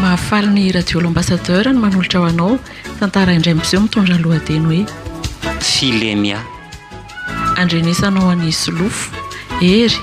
Mahafaly ny Radio L'Ambassadeur ny manolotra ho anao tantara indray miseho mitondra ny lohateny hoe Filemia. Andrenesanao an'i Solofo, Hery,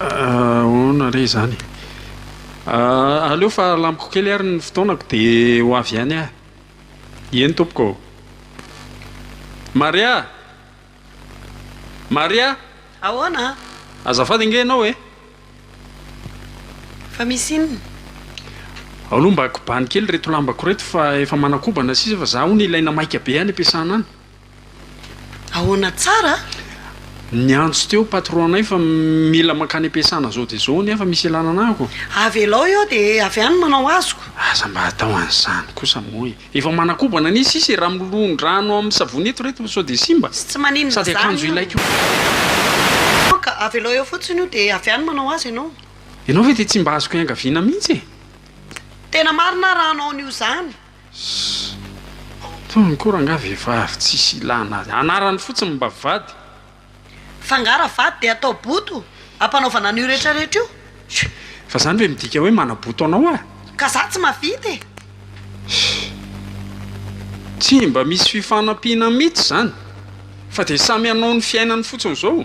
Ahoana re izany? Aleo fa alamiko kely ary ny fotoanako dia ho avy ihany aho. Eny tompoko ô. Maria! Maria! Ahoana? Azafady ange ianao e. Fa misy inona? Aleo mba kobano kely ireto lambako ireto fa efa manakobana sisa fa za hono ilaina maika be any am-piasana any. Ahoana tsara a? Niantso teo patron-nay fa mila mankany am-piasana izao dia izao nefa misy ilana anah ko. Avelao eo dia avy any manao azoko. Aza mba atao an'izany kosa moa e! Efa manakobana anie sisa e! Raha milon-drano amin'ny savony eto ireto sao dia simba. Sy tsy maninona izany io. Sady akanjo ilaiko io. Ka avelao eo fotsiny io dia avy any manao azy ianao. Ianao ve dia tsy mba azoko iangaviana mihitsy e! Tena marina aho raha hanao an'io izany. Ssy tony ko rangah vehivavy tsisy ilana azy anarany fotsiny mba vady. Fa nga ra vady de atao boto ampanaovana an'io rehetra rehetra io? Fa zany ve midika hoe manaboto anao ah? Ka za tsy mahavita e! Ssy tsy mba misy fifanampiana mitsy zany fa de samy hanao ny fiainany fotsiny zao.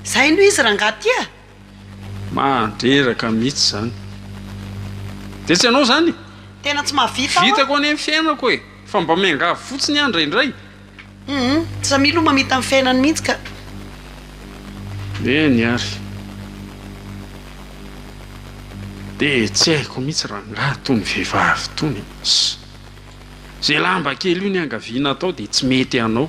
Zay no izy rangah ty ah. Mandreraka mitsy zany de tsy anao zany e! Tena tsy mahavita aho a! Vitako anie ny fiainako e! Fa mba miangavy fotsiny aho indraindray! Humm! Za milo mamita ny fiainany mihitsy ka! Eny ary! De tsy haiko mihitsy rangaha tony vehivavy tony e! Ze lamba kely io niangaviana atao de tsy mety anao!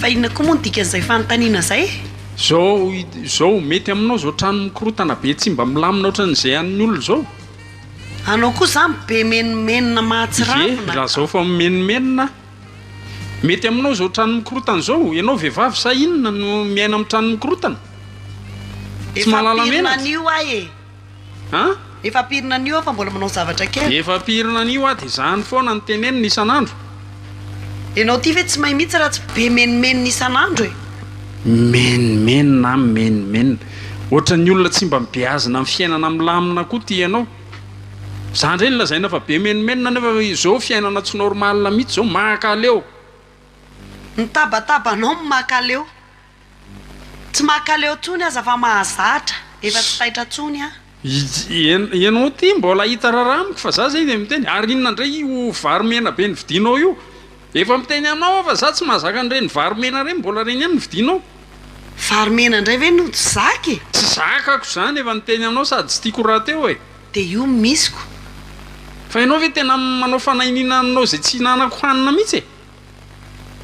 Fa inona koa moa no dikan'izay fanontaniana izay? Zao zao mety aminao zao trano mikorotana be tsy mba milamina ohatran'izay an'ny olona izao? Anao koa zany be menomenona mahatsiravina. Ye, raha zao fa mimenomenona aho. Mety aminao zao trano mikorotana izao? Ianao vehivavy sa inona no miaina amin'ny trano mikorotana? Tsy mahalala menatra. Efa am-pirina an'io aho e. An? Efa am-piriny anio aho fa mbola manao zavatra kely. Efa am-piriny anio aho dia izany foana no teneniny isan'andro. Ianao ity ve tsy mahay mihitsy raha tsy be menomenona isan'andro e? Menomenona an, menomenona. Ohatran'ny olona tsy mba mibeazina amin'ny fiainana milamina koa ity ianao. Za indray no lazaina fa be menomenona nefa izao fiainana tsy normal mihitsy izao, mahakaleo. Ny tabataba anao no mahakaleo. Tsy makaleo tsony aza fa mahazatra, efa tsy taitra tsony an. Ianao ity mbola hita raharaha amiko fa za zay dia miteny ary inona indray io vary mena be novidianao io? Efa miteny aminao aho fa za tsy mahazaka an'ireny vary mena ireny mbola ireny ihany no vidianao. Vary mena indray ve no tsy zaka e? Tsy zakako izany efa niteny aminao sady tsy tiako rahateo e. Dia io no misiko. Fa ianao ve tena manao fanahiniana aminao izay tsy ihinanako hanina mihitsy e?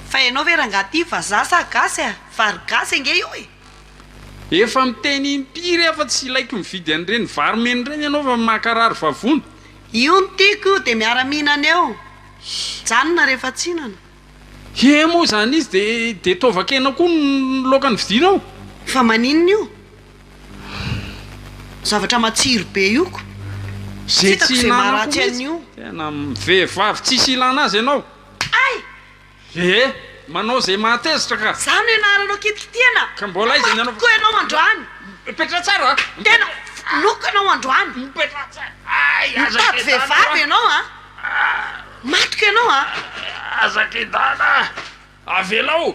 Fa ianao ve rangaha ity vazaha sa gasy a? Vary gasy ange io e! Efa miteny impiry aho fa tsy ilaiko mividy an'ireny vary mena ireny ianao fa mankarary vavony. Io no tiako io dia miara mihinana eo. Mijanona rehefa tsinana. He moa izany izy dia dia taovan-kena koa no laoka novidianao? Fa maninona io? Zavatra matsiro be io ko. Tsy hitako izay maharatsy an'io. Tena vehivavy tsisy ilana azy ianao. Kay! Ee! Manao izay mahatezitra ka! Za no ianaranao kitikitiana! Ka mbola aiza ny anao? Loko ianao androany! Mipetraha tsara a! Tena! Loko ianao androany! Mipetraha tsara! Ay! Aza kedahana! Mitady vehivavy ianao a! Matoky ianao a! Aza kedahana a! Avelao!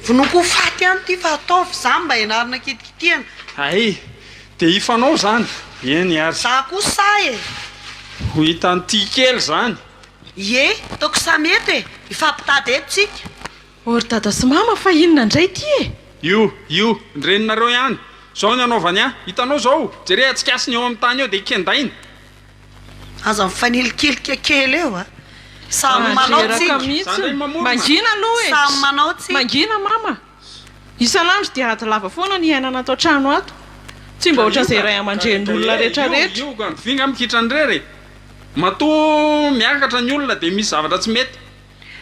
Vonoiko ho faty ihany ity fa ataovy izany mba ianarana kitikitiana! Ay! Dia hifanao izany! Eny ary! Za koa sahy e! Ho hitan'ity kely izany! Ie, toaka samy eto e! Hifampitady eto tsika! Oh ry dada sy mama fa inona indray ity e! Io, io, ny reninareo ihany! Zao ny anaovany an! Hitanao zao! Jere atsikasiny eo amin'ny tany eo dia kendainy! Aza mifanilikilika kely eo a! Samy manao tsika! Mangina aloha e! Samy manao tsika! Mangina mama! Isan'andro dia ady lava foana ny iainana ato an-trano ato. Tsy mba ohatran'izay ray aman-drenin'olona rehetrarehetra. Matoa miakatra ny olona dia misy zavatra tsy mety.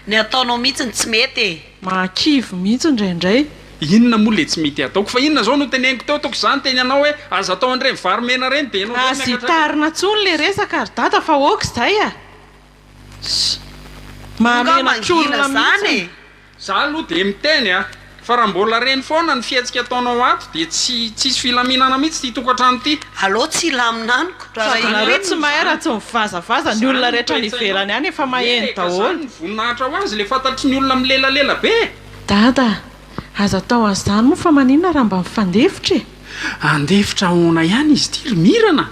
Ny ataonao mihitsy no tsy mety e! Mahakivy mihitsy indraindray. Inona moa ilay tsy mety ataoko? Fa inona izao no teneniko teo? Ataoko izany teny anao hoe aza atao an'ireny vary mena ireny dia ianao indray no miakatra ato. Aza itarina intsony ilay resaka ry dada fa ok izay a! Mahamenatra olona mihitsy. Za aloha dia miteny a! Fa raha mbola reny foana ny fihetsika ataonao ato dia tsy tsisy filaminana mihitsy ity tokantrano ity. Alou tsy hilamina amiko fa raha inona Ianareo tsy mahay raha tsy mivazavaza ny olona rehetra any ivelany any efa maheno daholo. Zany ny voninahitra ho azy le fantatry ny olona milelalela be e! Dada a! Aza atao an'izany moa fa maninona raha mba mifandefitra e! Handefitra ahoana ihany izy ity ry Mirana?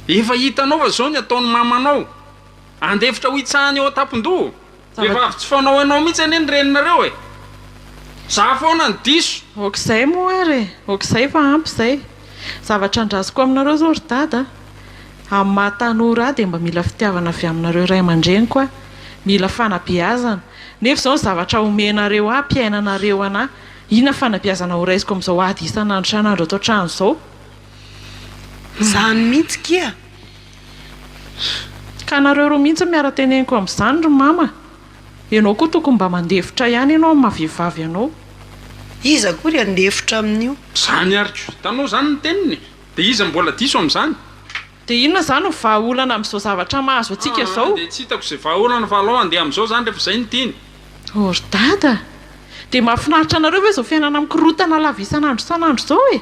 Efa hitanao fa zao ny ataon'i Mamanao! Handefitra ho hitsahany eo an-tampon-doha! Vehivavy tsy fanao anao mihitsy anie ny reninareo e! Za foana no diso! Ok'izay moa ary e! Ok'izay fa ampy izay! Zavatra andrasako aminareo zao ry dada a! Amin'ny maha tanora ahy dia mba mila fitiavana avy aminareo ray aman-dreniko aho, mila fanabeazana, nefa izao ny zavatra omenareo ahy ampiainanareo an'ahy, inona fanabeazana horaisiko amin'izao ady isan'andro isan'andro ato an-trano izao? Izany mihitsy kia! Ka nareo roa mihitsy no miara teneniko amizany ry mama Enao koa tokony mba mandefitra ihany enao amin'ny maha vehivavy anao. Iza koa ry handefitra amin'io. Zany ary ko. Hitanao zany ny teniny e. De iza mbola diso amizany. De inona zany no vaha olana amizao zavatra mahazo antsika zao. Aa de tsy hitako ze vaha olana fa alao andeha amizao zany refa zay no tiany. Oh ry dada a! Dia mahafinaritra anareo ve izao fiainana mikorontana lava isan'andro isan'andro izao e?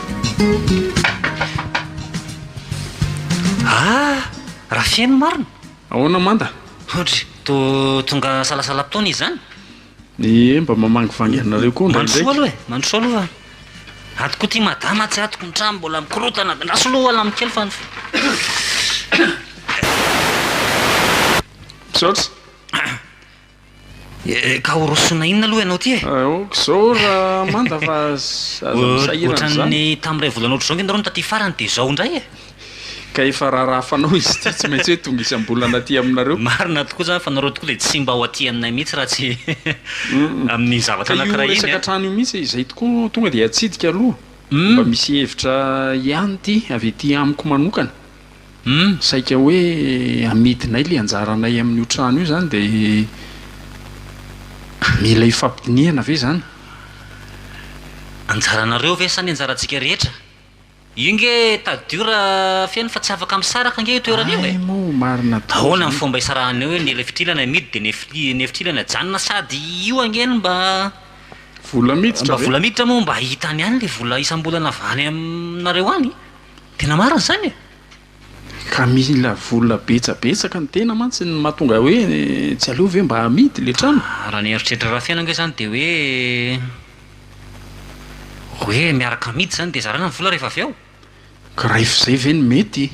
Ah! Raha feno marina? Ahoana Manda? Hoatry to tonga salasalam-potoana izy izany? Ie, mba mamangivangy anareo koa indraindray. Mandrosoa aloha e, mandrosoa aloha fa ato koa ity madama tsy atoko ny trano mbola mikorotana, andraso aloha hoala amiko kely fa ny Misaotra. Ka ho rosona inona aloha ianao ity e? Aoka izao Ramanda fa aza misahirana izany. Ohatran'ny tamin'ny iray volana ohatr'izao ange nareo no taty farany dia izao indray e! Ka efa raharaha fanao izy ity tsy maintsy hoe tonga isam-bolana aty aminareo. Marina tokoa izany fa nareo tokoa dia tsy mba ho aty aminay mihitsy raha tsy amin'ny zavatra anankiray iny a! Ka io resaka trano io mihitsy izay tokoa tonga dia atsidika aloha mba misy hevitra ihany ity avy aty amiko manokana. Humm saika hoe amidinay le anjaranay amin'io trano io zany de mila ifampidinihana ve zany? Anjaranareo ve sa ny anjarantsika rehetra? Io nge tadidio ra feno fa tsy afaka misaraka ange io toerana io e! Ay moa marina tokoa Ahoana ny zany. fomba isarahanay hoe ny le fitilana amidy de ny fili- ny fitilana ajanona sady io ange no mba Vola miditra mba ve? vola miditra moa mba hitany ihany le vola isam-bolana avy any aminareo any? Tena marina izany e! Ka mila vola betsabetsaka ny tena mantsy no mahatonga hoe tsy aleo ve mba amidy ilay trano? Raha ny eritreritra Rafeno ange izany dia hoe hoe miaraka amidy izany dia zarana ny vola rehefa avy eo? Ka raha efa izay ve no mety?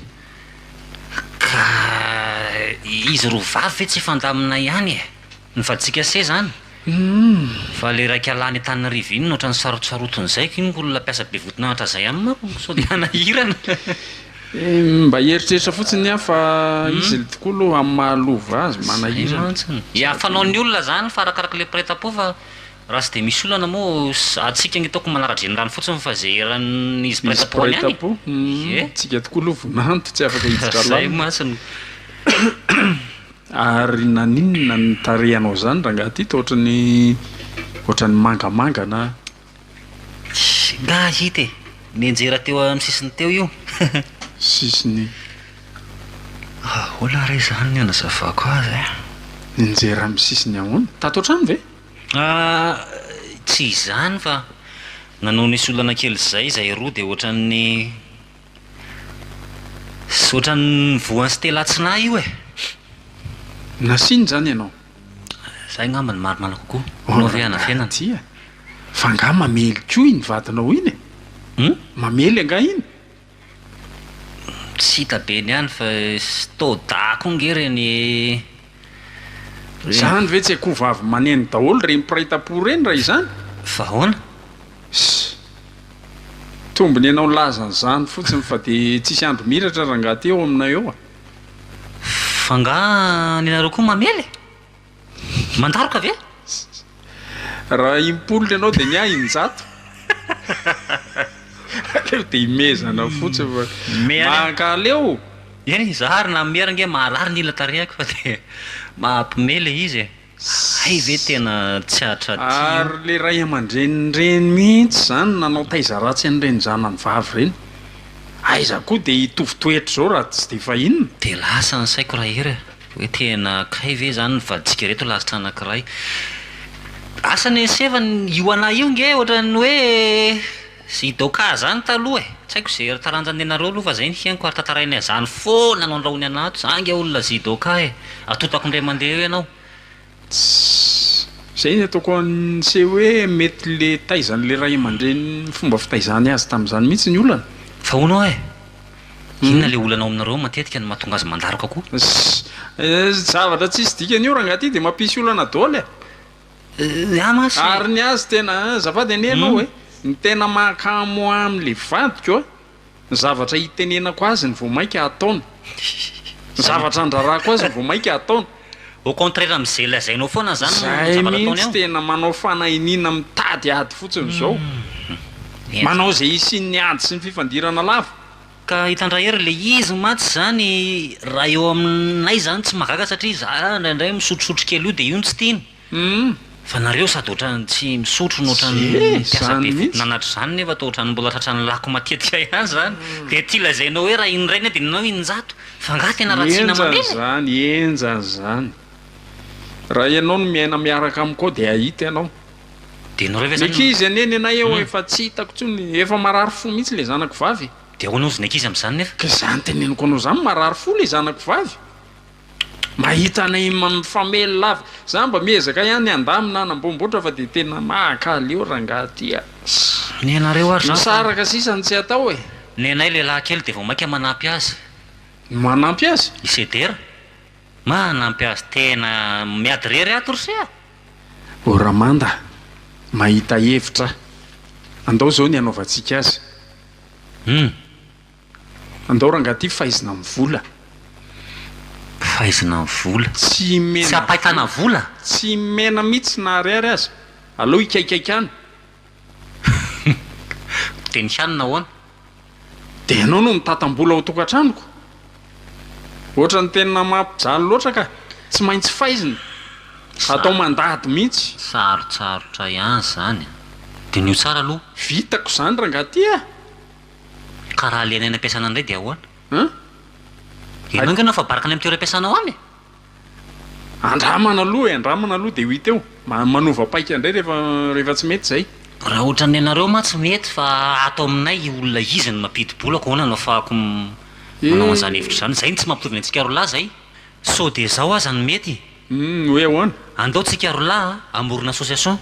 Ka izy roa vavy ve tsy hifandamina ihany e! Ny vaditsika se zany? Humm fa le raika lany Antananarivo iny no otrany sarotsarotiny zay iny olona mpiasa be voton'anatra zay any manko sao de hanahirana. Mba hieritreritra fotsiny aho fa izy le tokoa aloha amin'ny maha lova azy manahirana. Zay mantsy e. Fanaon'ny olona zany fa arakaraka le mpiraitampo fa raha tsy de misy olana moa antsika anie toa ko manara-drenirano fotsiny fa zay eran'izy mpiraitampo any any e. Ie. Tsika tokoa aloha vonanto tsy afaka hiditra lalina. Zay mantsy no. Ary naninona ny tarehanao zany rangaha Tito ohatrany ohatrany mangamanga na. Tsy nga hita e! Nianjera teo amin'ny sisiny teo io. Sisiny. Ahoana re zany ny anazavako azy e? Nianjera amin'ny sisiny ahoana? Tato an-trano ve? Tsy izany fa nanao nisy olana kely zay izahay roa dia ohatrany. Tsy ohatran'ny voan'i Stella tsy nahy io e! Nasiany izany ianao? Izay angamba no marimarina kokoa. Anao ve hanafenana? Tsia. Fa angaha mamely koa iny vadinao iny e? Hum? Mamely angaha iny? Tsy hita be ny any fa Stoda koa ange ireny e! Zany ve tsy akoho vavy maneno daholo reny mpiray tampo ireny raha izany? Fa ahoana? Sy. Tombony ianao nilaza an'izany fotsiny fa dia tsisy andro miratra rangaha aty eo aminay eo a! F'angaha ny anareo koa mamely? Mandaroka ve? Raha impolo ny anao dia ny ahy injato. Aleo dia imezana fotsiny fa mankaleo. Eny e, za ary na mihera ange maharary ny ila tarehako fa dia mahampime ilay izy e. Hay ve tena tsy hahatratio. Ary ilay ray aman-dreny ireny mihitsy izany nanao taiza ratsy an'ireny zanany vavy ireny. Aiza koa dia hitovy toetra izao raha tsy dia efa inona. Dia lasa ny saiko rahery e. Hoe tena kay ve izany ny vadintsika ireto lasitra anankiray? Asa anie ny seva ny io anah io nge ohatran'ny hoe i Doka zany taloha e! Tsy haiko ze taranjany nenareo aloha fa zay ny henoko ary tantarainay izany foana no andrahony anah ato, zany nge olona zy Doka e! Atotako indray mandeha eo ianao! Tss! Zay ny ataoko an'ise hoe mety le taizan'le ray aman-dreniny ny fomba fitaizany azy tamin'izany mihitsy ny olana. Fa hono oa e! Inona le olana ao aminareo matetika no mahatonga azy mandaroka koa? Tss! Zavatra tsisy dikany io rangaha ty de mampisy olana daoly e! Ahy mantsy. Ary ny azy tena azafady anie ianao e! Ny tena mahakamo ahy amin'le vadiko a! Ny zavatra itenenako azy no vao mainka ataony. Ny zavatra andrarahako azy no vao mainka ataony. Au contraire amin'izay lazainao foana zany no zavatra ataony ao? Zay mihintsy tena manao fanahiniana mitady ady fotsiny zao. Manao izay hisian'ny ady sy ny fifandirana lava. Ka hitandrà hery le izy mantsy zany raha eo aminay zany tsy mahagaga satria za indraindray misotrosotro kely io de io no tsy tiany. Humm fa nareo sady otrany tsy misotro no otrany mpiasa be fitonanatra zany nefa toa otrany mbola tratran'ny lako matetika ihany zany de ity lazainao hoe raha indray ny adinonao injato fa nga tena ratsina mandeha e! Enjany zany enjany zany raha ianao no miaina miaraka amiko ao de ahita ianao de nareo ve zany ny ankizy anie ny anay ao efa tsy hitako tsony efa marary fo mitsy le zanako vavy e! de ahoana ozy ny ankizy amzany nefa? ka zany teneniko anao zany marary fo le zanako vavy! Mahita anay mifamely lava. Za mba miezaka ihany handamina hanambombotra fa dia tena mahakaly eo rangaha ty ah. Misaraka sisa ny tsy atao e. Nenay lehilahy kely dia vao mainka manampy azy. Manampy azy? I Sedera. Manampy azy tena miady irery ato ry se ah. O Ramanda mahita hevitra ah. Andao izao ny hanaovantsika azy. Humm. Andao rangah ty faizina am vola. Faizina am vola. Tsy mena. Tsy ampaitana vola? Tsy mena mitsy na ariary aza. Aleo hikaikaika any. Dia ny hanina ahoana? Dia ianao no mitatam-bola ao tokantranoko? Ohatran'ny tena mampijaly loatra ka! Tsy maintsy faizina! Atao mandady mihitsy! Sarotsarotra ihany izany a! Diniho tsara aloha! Vitako izany rangah ty a! Ka raha alaina eny am-piasana indray dia ahoana? An? Ianao ange no afa-baraka any amin'ny toeram-piasanao any e! Andramana aloha e, andramana aloha dia ho hita eo. Manova paika indray rehefa, rehefa tsy mety izay. Raha ohatran'ny anareo ma tsy mety fa ato aminay i olona izy no mampidi-bolako ahoana no afahako manao an'izany hevitra izany? Izay no tsy mampitovy antsika roa lahy izay. Sao dia izao aza no mety? Humm hoe ahoana? Andao tsika roa lahy a, hamorona association.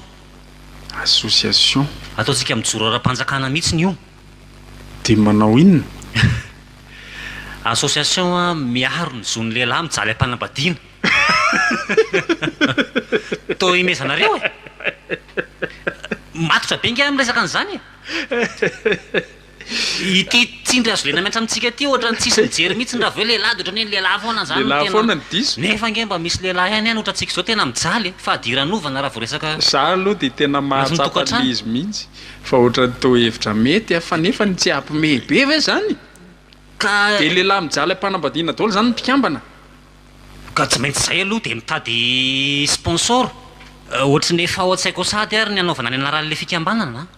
Association. Ataontsika mijoro ara-panjakana mihitsiny io. Dia manao inona? Association miaro ny zon'ny lehilahy mijaly am-panambadiana. Toa himezanareo e! Matotra be ange aho amin'ny resaka an'izany e! Ity tsindry azo lenamihatra amintsika ity ohatran'ny tsisy mijery mihitsy ny raha avy eo lehilahy dia ohatran'ny hoe ny lehilahy foana izany no tena Nefa ange mba misy lehilahy ihany ihany ohatrantsika izao tena mijaly e! Fadiranovana raha vao resaka Za aloha dia tena mahatsapa an'ilay izy mihitsy fa ohatran'ny toa hevitra mety a! Fa nefa ny tsy hapimehy be ve izany? Dia lehilahy mijaly am-panambadiana daholo izany ny mpikambana? Ka tsy maintsy izay aloha dia mitady sponsor ohatry ny efa ao an-tsaiko ao sahady ary ny hanaovana ny anaran'ilay fikambanana a!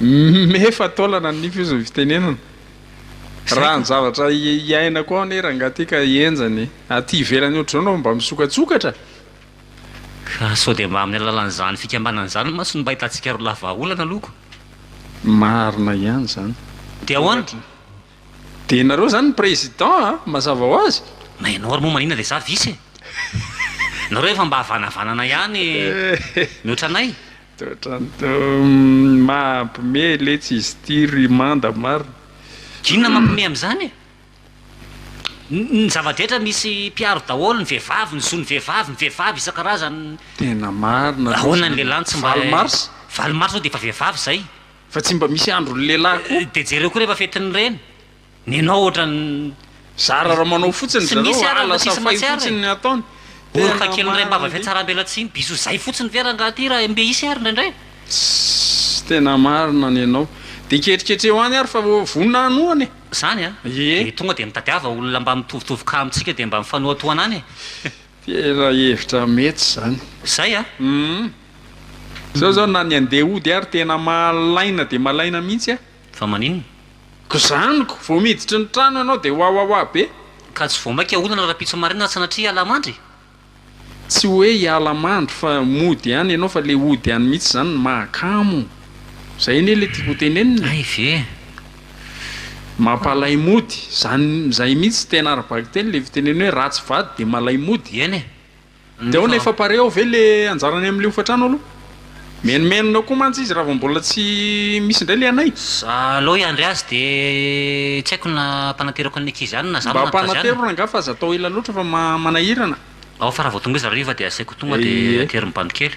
Efa taolana ny nify ozy ny fitenenana. Raha ny zavatra iainako ao anie rangaha ty ka henjana e. Aty ivelany ohatr'izao no mba misokatsokatra. Ka sao dia mba amin'ny alalan'izany fikambanana izany mantsy no mba ahitantsika roa lahy vahaolana aloha ko. Marina ihany izany. Dia ahoana? Dia nareo izany ny président a! Mazava ho azy. Na ianao ary moa manina dia za vice e! Nareo efa mba havanavanana ihany mihoatra anay. Mampme letsy izy ity ry Manda marina. Inona mampme amin'izany e? Ny zava-drehetra misy mpiaro daholo, ny vehivavy, ny zon'ny vehivavy, ny vehivavy isan-karazany. Tena marina aloha izany. Ahoana ny lehilahy no tsy mba. Valo mars? Valo mars aloha dia efa vehivavy izay. Fa tsy mba misy andron'ny lehilahy koa. Dia jereo koa rehefa fetin'ny reny. Nenao ohatran'ny zara raha manao fotsiny ry zareo a, lasa fay fotsiny ny ataony. Oroka kely miray am-bava fihatsarambelatsihy bisous zay fotsiny ve rangah aty raha mbe hisy ary indraindray a! Tss! Tena marina ny anao. Dia ketriketreho any ary fa vonona hanohana e! Zany a! Ie! Dia tonga dia mitadiava olona mba mitovitovy cas amintsika dia mba mifanohatohana any e! Tena hevitra mety zany. Zay a! Hum! Zao zao na ny andeha hody ary tena malaina dia malaina mihitsy a! Fa maninona? Ko zaniko, vao miditra ny trano ianao dia wawawa be. Ka tsy vao maika olana rahampitso marina ary sanatria hiala mandry? Tsy hoe hiala mandry fa mody ihany ianao fa ilay hody ihany mihitsy izany no mahakamo. Izay anie ilay tiako hotenenina e. Hay ve. Mampalay mody, izany izay mihitsy tena ara-bakiteny ilay fitenenana hoe ratsy vady dia malay mody. Eny e. Dia ao nefa pare ao ve le anjarany amle hofatrano aloha? Menomenona koa mantsy izy raha vao mbola tsy misy indray le anay. Za alou hiandry azy de tsy haiko na ampanateriko an'ny ankizy any na za no Mba manatitra azy any. apanatero rangah fa aza atao ela loatra fa manahirana. Ao fa raha vao tonga izy hariva de asaiko tonga de Ie. ateriny bando kely.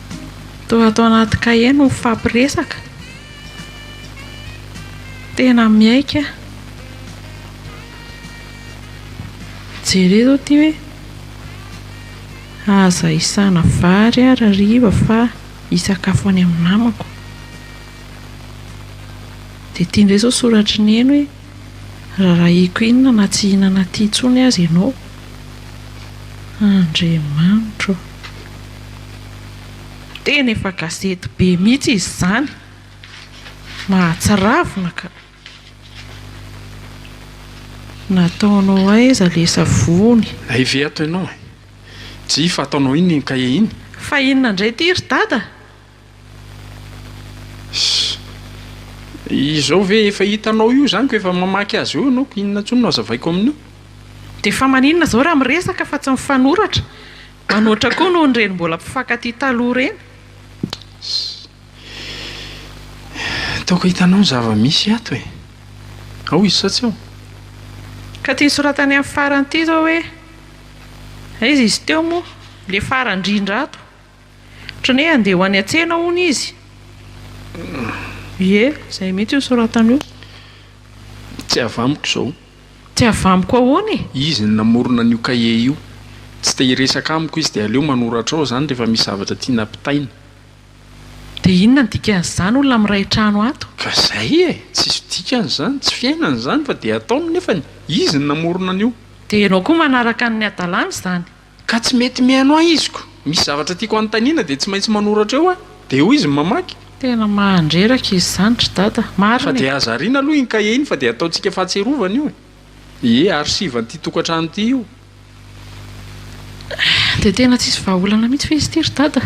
Toa ato anaty kahie no mifampiresaka. Tena miaiky aho. Jereo izao ity hoe aza isana vary ary hariva fa hisakafo any amin'ny namako. Dia ity indray izao soratry neny hoe rarahiko inona na tsy hihinana aty intsony aza ianao. Andriamanitra ô! Tena efa gazety be mihitsy izy izany. Mahatsiravina ka. Nataonao aiza le savony? Aive ato ianao e! Jii fa ataonao inona iny kahie iny? Fa inona indray ity ry dada? Ssy. Izao ve efa hitanao io izany ko efa mamaky azy eo ianao ko inona intsony no hazavaiko amin'io? Dia fa maninona izao raha miresaka fa tsy mifanoratra? Manoatra koa noho ireny mbola mpifankatia taloha ireny. Hi. Toaka hitanao ny zava-misy ato e. Ao izy sao tsy ao. Ka ity nosoratany amin'ny farany ity izao hoe, aiza izy teo moa, ilay farany indrindra ato. Ohatran'ny hoe handeha ho any an-tsena hono izy. Ie, izay mihitsy io nosoratany io. Tsy avamiko izao. Tsy avy amiko ahoana e! Izy no namorona an'io cahier io. Tsy te hiresaka amiko izy dia aleo manoratra ao izany rehefa misy zavatra tiana ampitaina. Dia inona ny dikan'izany olona miray trano ato? Ka izay e! Tsisy dikany izany, tsy fiainany izany fa dia ataony nefany. Izy no namorona an'io. Dia ianao koa manaraka an'ny hadalany izany? Ka tsy mety mihaino ahy iziko. Misy zavatra tiako anontaniana dia tsy maintsy manoratra eo aho. Dia eo izy mamaky. Tena mahandreraka izy izany ry dada. Marina e. Fa dia aza ariana aloha iny kahie iny fa dia ataontsika fahatserovana io e. Ie, archive an'ity tokantrano ity io. Dia tena tsisy vahaolana mihitsy ve izy ity ry dada?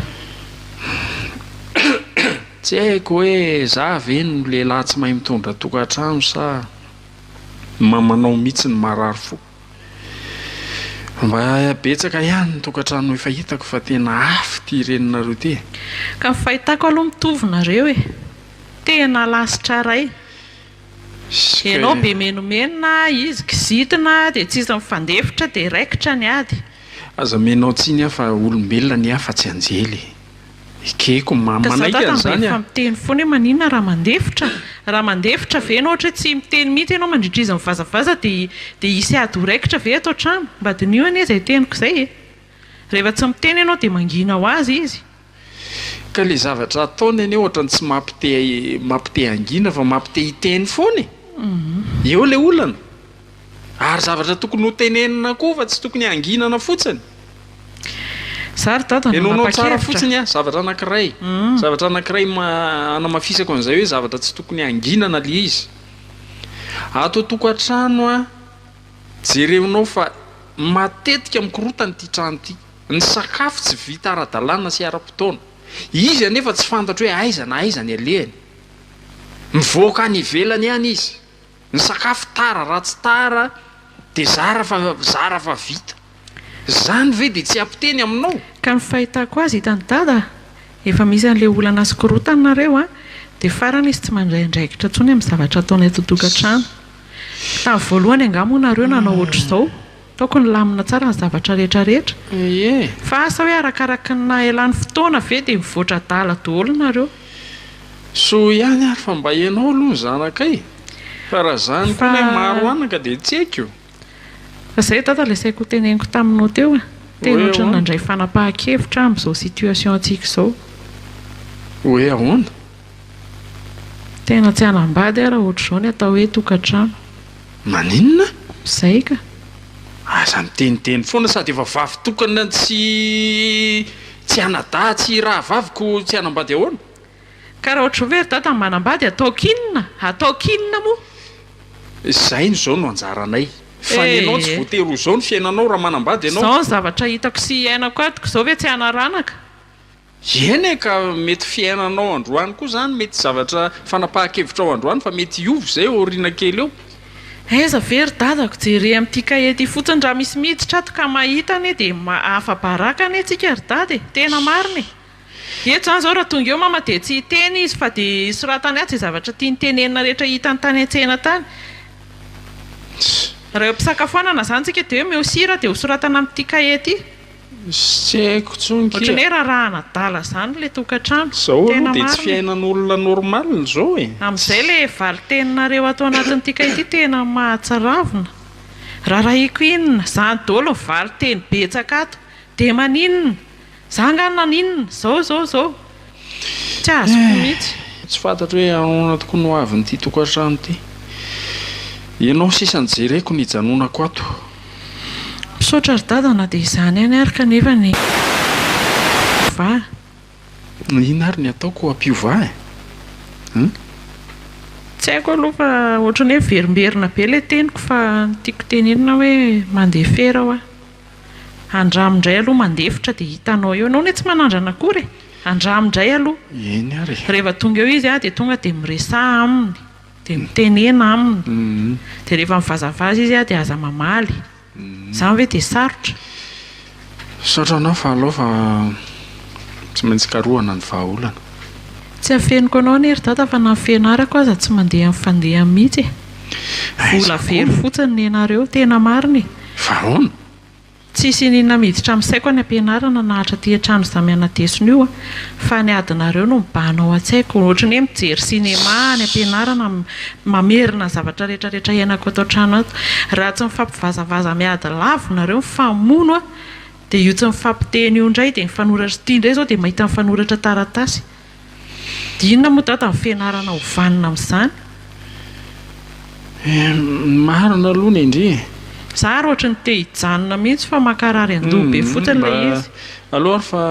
Tsy haiko hoe za ve no lehilahy tsy mahay mitondra tokantrano sa ny mamanao mihitsy no marary fo. Mba betsaka ihany ny tokantrano efa hitako fa tena afo ity reninareo ity e! Ka ny fahitako aloha mitovy nareo e! Tena lasitra ray! Ianao be menomenona, izy kizitina dia tsisy mifandefitra dia raikitra ny ady. Aza amenao tsiny aho fa olombelona ny ahy fa tsy anjely e! Ekeko manaiky an'izany an! Ka za tratran'ny be efa miteny foana hoe maninona raha mandefitra? Raha mandefitra ve ianao ohatra hoe tsy miteny mihitsy ianao mandritra izy mivazavaza dia dia hisy ady ho raikitra ve ato an-trano? Mba diniho anie izay teniko izay e! Rehefa tsy miteny ianao dia mangina ho azy izy. Ka ilay zavatra ataony anie ohatra ny tsy mampite mampite hangina fa mampite hiteny foana e! Eo ilay olana! Ary zavatra tokony ho tenenina koa fa tsy tokony hanginana fotsiny. Za ry dada no nanapa-kevitra. Henoinao tsara fotsiny aho, zavatra anankiray. Zavatra anankiray hanamafisako an'izay hoe zavatra tsy tokony hanginana ilay izy. Ato an-tokantrano an, jereonao fa matetika mikorontana ity trano ity. Ny sakafo tsy vita ara-dalàna sy ara-potoana. Izy anefa tsy fantatro hoe aiza na aiza ny alehany. Mivoaka any ivelany any izy. Ny sakafo tara raha tsy tara dia zara fa zara fa vita. Zany ve dia tsy apiteny aminao? Ka ny fahitako azy hitan'i Dada efa misy an'ilay olana sy korotany nareo a! Dia farany izy tsy mandray andraikitra intsony amin'ny zavatra ataonay totokantrano. Tamin'ny voalohany angaha moa nareo nanao ohatr'izao? Tokony lamina tsara ny zavatra rehetra rehetra fa asa hoe arakaraky ny nahaelany fotoana ve dia mivoatra adala doholo nareo. Soa ihany ary fa mba ianao aloha ny zanakay fa raha zany koa ilay maro anaka dia tsy haiko. Fa zay dada ilay saiko ho teneniko taminao teo e, tena ohatran'ny nandray fanapahan-kevitra aho amin'izao situation antsika izao. Hoe ahoana? Tena tsy hanambady aho raha ohatr'izao ny atao hoe tokantrano. Maninona? Izay ka! Aza miteniteny foana sady efa vavy tokana tsy tsy anadahy tsy rahavavy ko tsy hanambady ahoana? Ka raha ohatr'izao ve ry dada no manambady ataoko inona? Ataoko inona moa? Izay no izao no anjaranay. Fa ny anao tsy voatery ho izao ny fiainanao raha manambady ianao. Izao ny zavatra hitako sy iainako ato ka izao ve tsy hanaranaka? Eny e, ka mety fiainanao androany koa izany, mety zavatra fanapahan-kevitrao androany fa mety hiova izay ao aoriana kely eo. Aiza ve ry dadako, jere amin'ity kahie ity fotsiny, raha misy miditra ato ka mahita anie dia afa-baraka anie tsika ry dada e, tena marina e, eto izany izao raha tonga eo mama dia tsy hiteny izy fa dia soratany ato izay zavatra tiany tenenina rehetra hitany tany an-tsena tany, raha eo am-pisakafoanana izany tsika dia hoe omeo sira dia hosoratana amin'ity kahie ity. Tsy haiko tsony kia. Ohatran'ny hoe rarahana adala zany le tokantrano. Zao aloha de tsy fiainan'olona normal zao e. Amin'izay le valiteninareo ato anatin'ny tika ity tena mahatsaravina. Rarahiko inona? Zany dolo ny valiteny betsaka ato. De maninona? Za nga naninona? Zao zao zao. Tsy azoko mihitsy. Tsy fantatro hoe ahoana tokoa ny ho avin'ity tokantrano ity. Ianao sisa no jereko nijanonako ato. Misaotra ry dada na dia izany ihany ary kanefa ny mpiovà. Inona ary ny ataoko ho ampiovà e? Hum. Tsy haiko aloha fa ohatran'ny hoe miverimberina be ilay teniko fa ny tiako tenenina hoe mandeha fera hoa. Andramo ndray aloha mandefitra dia hitanao eo, enao anie tsy manandrana akory e! andramo ndray aloha, Eny ary e! rehefa tonga eo izy dia tonga dia miresaha aminy, dia mitenena aminy, dia rehefa mivazavaza izy dia aza mamaly, izany ve dia sarotra? Misaotra anao fa alao fa tsy maintsy karohana ny vahaolana. Tsy afeniko anao anie ry dada fa na ny fianarako aza tsy mandeha ny fandehany mihitsy e! vola very fotsiny ny anareo, tena marina e! Fa ahoana? Tsisy iniana miditra amin'ny saiko any am-pianarana nahatra ity an-trano izaho mianadesona io fa ny adinareo no mibahana ao an-tsaiko. Ohatran'ny hoe mijery sinema aho any am-pianarana, mamerina ny zavatra rehetrarehetra iainako ato an-trano ato. Raha tsy mifampivazavaza miady lavo nareo mifamono aho dia io tsy mifampiteny io indray dia mifanoratra, ity indray izao dia mahita mifanoratra taratasy. Dia inona moa Dada ny fianarana ho vanona amin'izany? Ny marina aloha ny ndry e! Za ary ohatry ny te hijanona mihitsy fa mankarary an-doha be fotsiny ilay izy. Mba aleo ary fa.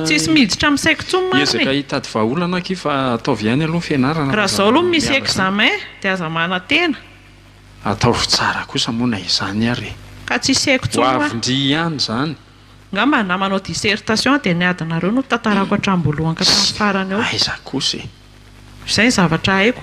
Tsisy miditra amin'ny saiko intsony marina e! Miezaka hitady vahaolana akia fa ataovy ihany aloha ny fianarana fa zany miala zany. Raha izao aloha misy examen dia aza manantena. Ataovy tsara kosa moa na izany ary e! Ka tsisy haiko intsony hoa. Ho avy ndry ihany izany. Ngamba na manao dissertation dia ny adinareo no tantarako hatramboalohany ka hatramin'ny farany eo. Aiza kosa e. Izay ny zavatra haiko.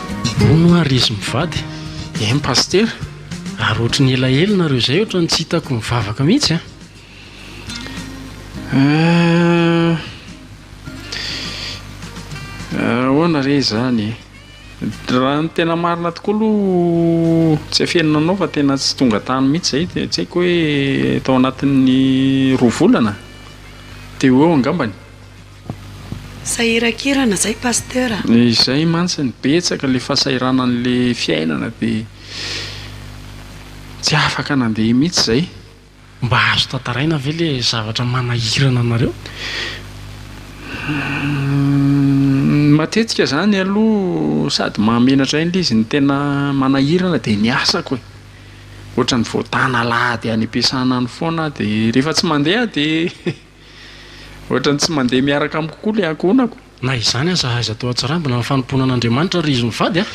Hono ary izy mivady em pasitera ary ohatry ny elaela nareo zay ohatry ny tsy hitako mivavaka mihitsy a! Ahoana re izany e? Raha ny tena marina tokoa aloha tsy afenina anao fa tena tsy tonga tany mihitsy izay dia tsy haiko hoe tao anatin'ny roa volana? Teo ho eo angambany? Sahirakirana zay Pasteur a! Izay mantsiny, betsaka le fasahiranany le fiainana de tsy afaka nandeha mitsy zay. Mba azo tantaraina ve le zavatra manahirana anareo? Humm matetika zany aloha sady mahamenatra ahy le izy ny tena manahirana de ny asako e! Ohatran'ny voatana alahady any am-piasana any foana aho de rehefa tsy mandeha aho de Ohatran'ny tsy mandeha miaraka amiko koa ilay ankohonako. Na izany aza aiza teo Antsirambina amin'ny fanompoana an'Andriamanitra ry izy mivady a!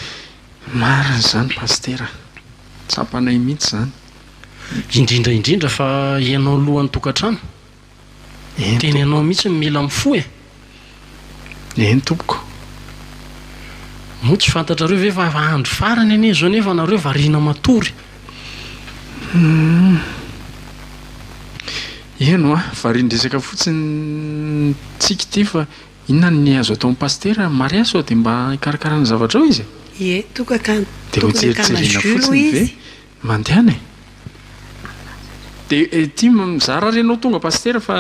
Marina izany Pasitera a! Tsapanay mihitsy izany. Indrindra indrindra fa ianao lohan'ny tokantrano. Tena ianao mihitsy no mila mifoha e! Eny tompoko. Moa tsy fantatrareo ve fa efa andro farany anie izao nefa nareo variana matory. Humm. Eny hoa, varian-dresaka fotsiny ny tsiky ity fa inona ny azo atao ny pasitera? Maria sao dia mba hikarakara ny zavatrao izy e? Ie, toka ka Dia hojerijeriana fotsiny ve mandehana e? Dia ity mizara ary ianao tonga pasitera fa.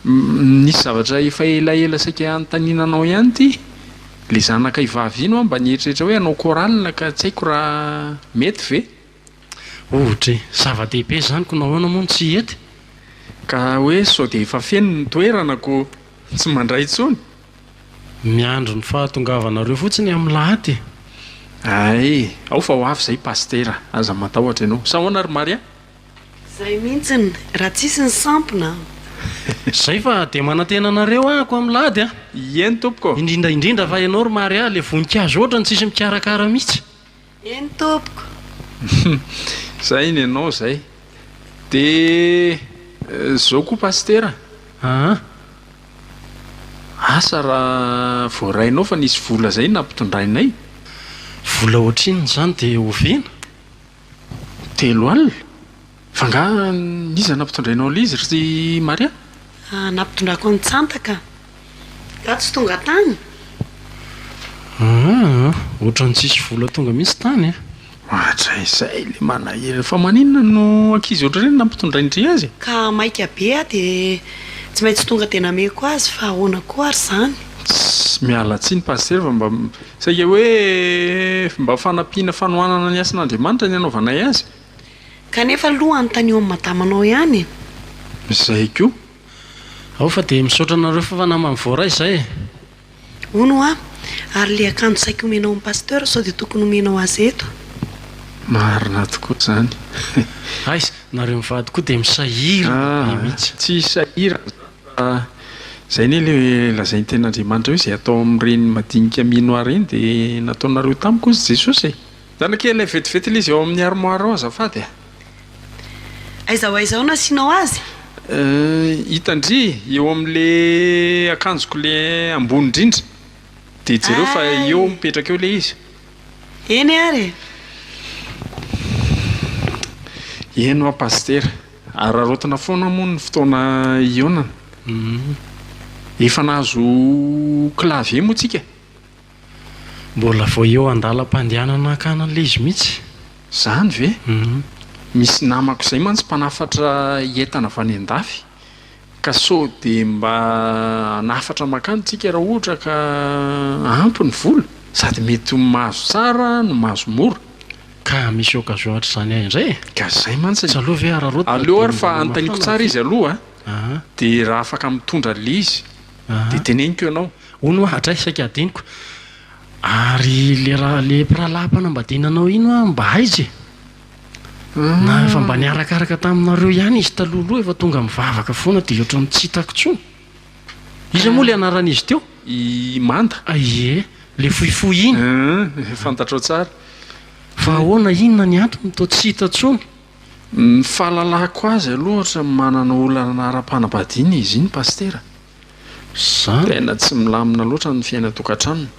Nisy zavatra efa elaela saika hanontaniana anao ihany ity, le zanakay vavy iny hoa mba nieritreritra hoe hanao chorale ka tsy haiko raha mety ve? Ohatra e! Zava-dehibe izany ko nahoana moa no tsy hety? Ka hoe sao dia efa feno ny toerana ko tsy mandray intsony? Miandry ny fahatongavanareo fotsiny amin'ny lahady e! Ay, ao fa ho avy izay Pasitera, aza matahotra ianao. Sao ahoana ry Maria? Zay mintsiny raha tsisy ny sampona an! Zay fa dia manantena anareo ahako am lady a! Eny tompoko! Indrindra indrindra fa ianao ry Mary a, le voninkazo otrany tsisy mikarakara mitsy! Eny tompoko! Zay ny anao zay! De zao koa Pasitera an! Asa raha voarainao fa nisy vola zay nampitondrainay? Vola otrinona zany de oviana? Telo alina? Fa angaha n'iza nampitondrainao an Lizy ry Maria? Ah, nampitondrako an'i Tsanta ka. Nga tsy tonga tany? Aa, ohatran'ny tsisy vola tonga mihitsy tany e! Hatraizay le manahirana. Fa maninona no ankizy ohatr'ireny nampitondrain-dry azy e? Ka maika be aho dia tsy maintsy tonga dia nameko azy fa ahoana koa ary izany? Tss, miala tsiny Pasitera fa mba Saika hoe mba fanampiana fanohanana ny asan'Andriamanitra ny anaovanay azy. Kanefa aloha anontanio an'i madama anao ihany e! Izay koa. Ao fa dia misaotra anareo fa namany voaray izay e! Hono hoa! Ary ilay akanjo saika omenao an'i Pasteur sao dia tokony omenao azy eto? Marina tokoa izany. Aiza! Nareo mivady koa dia misahirana be mihitsy. Tsy hisahirana izany. Fa izay anie ilay lazain'ny tenin'Andriamanitra hoe izay atao amin'ireny madinika minoà ireny dia nataonareo tamiko hozy Jesosy e! Zanakay ilay vetivety ilay izy ao amin'ny armoire ao azafady a! Aiza ho aiza ao no asianao azy? Hitan-dry eo amin'ilay akanjoko ilay ambony indrindra dia jereo fa eo mipetraka eo ilay izy. Eny ary e! Eny ho'a Pasitera. Araraotina foana moa ny fotoana hihaonana. Efa nahazo clavier moa tsika? Mbola vao eo an-dalam-pandehanana hankany an'ilay izy mihitsy. Izany ve? Misy namako izay mantsy mpanafatra entana avy any an-dafy ka sao dia mba hanafatra mankany tsika raha ohatra ka ampy ny vola sady mety ho mahazo tsara no mahazo mora. Ka misy occasion hatrizany ahy indray e! Ka zay mantsy e! Tsy aleo ve hararaoty mba Aleo ary fa anontaniko tsara izy aloha a! De raha afaka mitondra an'le izy de teneniko ianao. Hono hoa hatray saika hadinoko. Ary le raha le mpirahalahy mpanambadiana anao iny hoa mba aiza e? Na efa mba niarakaraka taminareo ihany izy talohaloha efa tonga mivavaka foana de ohatran'ny tsy hitako intsony. Iza moa ilay anaran'izy teo? I Manda. Ie, ilay fohifohy iny. Hum, fantatrao tsara. Fa ahoana, inona ny antony toa tsy hita intsony? Ny fahalalako azy aloha ohatran'ny manana olana ara-panambadiana izy iny Pasitera. Izany? Tena tsy milamina loatra ny fiainan-tokantranony.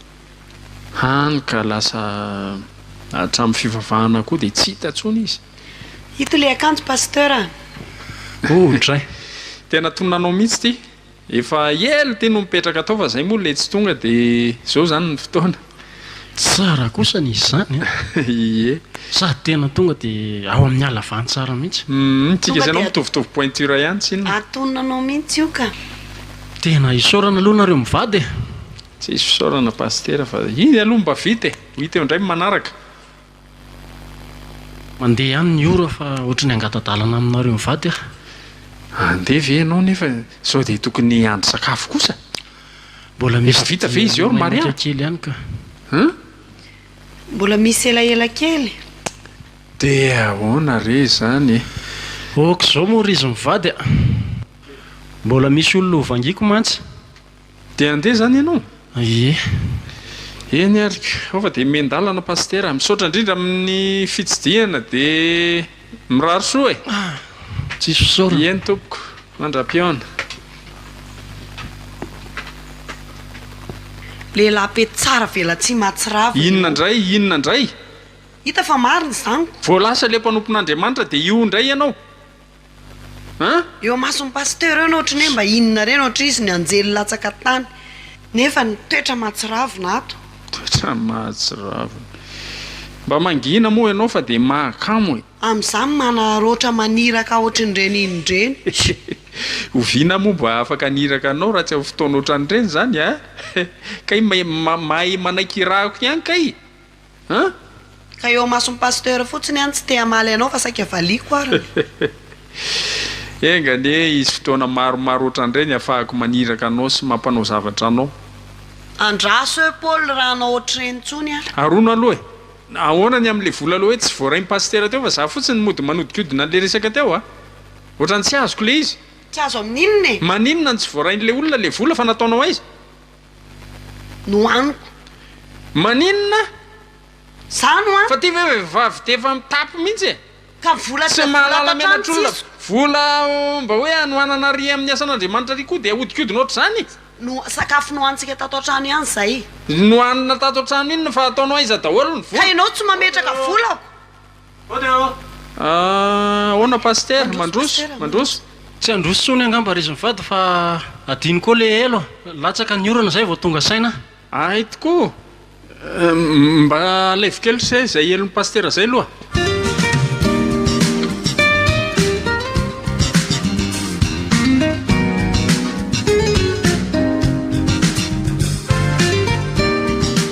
Hany ka lasa hatramin'ny fivavahana koa dia tsy hita intsony izy. Ito le akanjo Pasteur a! Oh dray! Tena tonona anao mihitsy ity! Efa ela ity no mipetraka tao fa zay moa le tsy tonga de zao zany ny fotoana! Tsara kosa ny izany a! Ie! Sady tena tonga de ao amin'ny halavan tsara mihitsy! Hum tsika sy ianao mitovitovy pointure ihany tsinona! Atonona anao mihitsy io ka! Tena isaorana aloha nareo mivady e! Tsisy fisaorana Pasitera fa iny aloha mba vita e! Ho hita eo indray ny manaraka! Mandeha ihany ny ora fa ohatry ny hangata-dalana aminareo mivady aho. Handeha ve ianao nefa sao dia tokony hiandry sakafo kosa? Mbola misy Efa vita ve izy eo ry Maria? menaka kely ihany ka. Hein? Mbola misy elaela kely. Dia ahoana re izany e? Ok, izao moa ry izy mivady a! Mbola misy olona ho vangiako mantsy. Dia handeha izany ianao? Ie. Eny ary koa fa dia mihen-dalana Pasitera. Misaotra indrindra amin'ny fitsidihana dia mirary soa e! Tsisy fisaorana. Eny tompoko, mandra-pihaona. Lehilahy pety tsara velatsihy mahatsiravina ianao. Inona indray? Inona indray? Hita fa marina izany ko. Vao lasa ilay mpanompon'Andriamanitra dia io indray ianao? An! Eo amason'ny pasteur eo no ohatry ny hoe mba inona reny ohatry izy ny anjely latsaka tany nefa ny toetra mahatsiravina ato. Toetra mahatsiravina. Mba mangina moa ianao fa dia mahakamo e. Amin'izany manaroatra maniraka ohatry ny reniny ireny. Oviana moa mba afaka haniraka anao raha tsy amin'ny fotoana ohatran'ireny izany a? Kay mahay manaiky irahako ihany kay An! Ka eo amason'ny pasteur fotsiny an tsy te hamaly anao fa saika valiako ary ny. Enga anie hisy fotoana maromaro otran'ireny hafahako maniraka anao sy mampanao zavatra anao. Andraso eo Paul raha hanao otr'ireny intsony an. Arono aloha e! Ahoana ny amin'ilay vola aloha hoe tsy voarain'ny pasitera teo fa za fotsiny no mody manodikodina an'ilay resaka teo a! Ohatran'ny tsy azoko ilay izy. Tsy azo amin'inona e! Maninona no tsy voarain'ilay olona ilay vola fa nataonao aiza? no aniko. Maninona? Zany hoa. Fa ty ve vehivavy dia efa mitapy mihitsy e! Ka vola tsy mahalala menatr'olona. Vola mba hoe hanohanana ary amin'ny asan'Andriamanitra ary koa dia ahodikodina ohatr'izany? No sakafo nohanintsika tato an-trano ihany izay. Nohanina tato an-trano iny fa ataonao aiza daholo ny vola? Ka ianao tsy mametraka volako. Ahoana Pasitera? Mandroso? Mandroso? Tsy handroso tsony angamba ry zmivady fa adino koa le elo a! Latsaka ny orana zay vao tonga saina a! Ahay tokoa! Mba alaivo kely se izay elon'i Pasitera izay aloha!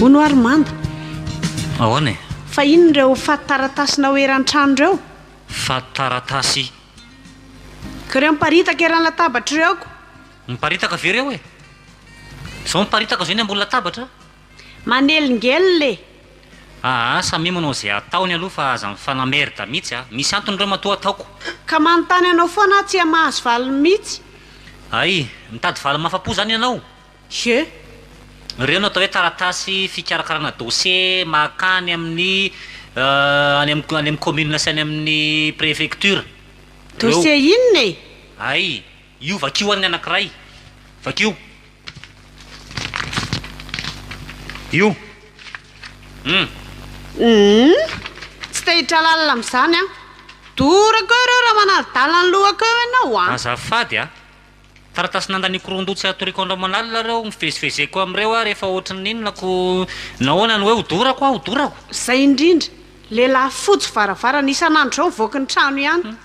Hono ary manda. Ahoana e? Fa inona ireo fatin-taratasinao eran-trano ireo? Fatin-taratasy? Ka ireo miparitaka eran'ny latabatra ireo ko? Miparitaka ve ireo e? Izao miparitaka izao eny ambony latabatra? Manelingelina e! Aa samia manao izay ataony aloha fa aza mifanamerde mihitsy a! Misy antony ireo matoa ataoko. Ka manontany anao foana aho tsy hamahazo valiny mihitsy. Ay! Mitady valiny mahafa-po izany ianao? Xie, ireo no atao hoe taratasy fikarakarana dosie mahakà any amin'ny any amin'ny any amin'ny commune sy any amin'ny prefecture. Ireo. Dosie inona e? Hay, io vakio any ny anankiray. Vakio. Io. Hum. Hum, tsy te hitralalina amin'izany aho. Dorako eo ireo raha manadidala ny lohako eo ianao a! Azafady a! Taratasy nandaniako roa ndoha tsy hatoriko andro aman'alina ireo nivezivezeko amin'ireo aho rehefa ohatry ny inona ko nahoana no hoe hodorako aho hodorako. Zay indrindra, lehilahy fojo varavarana isan'andro zao mivoaka ny trano ihany.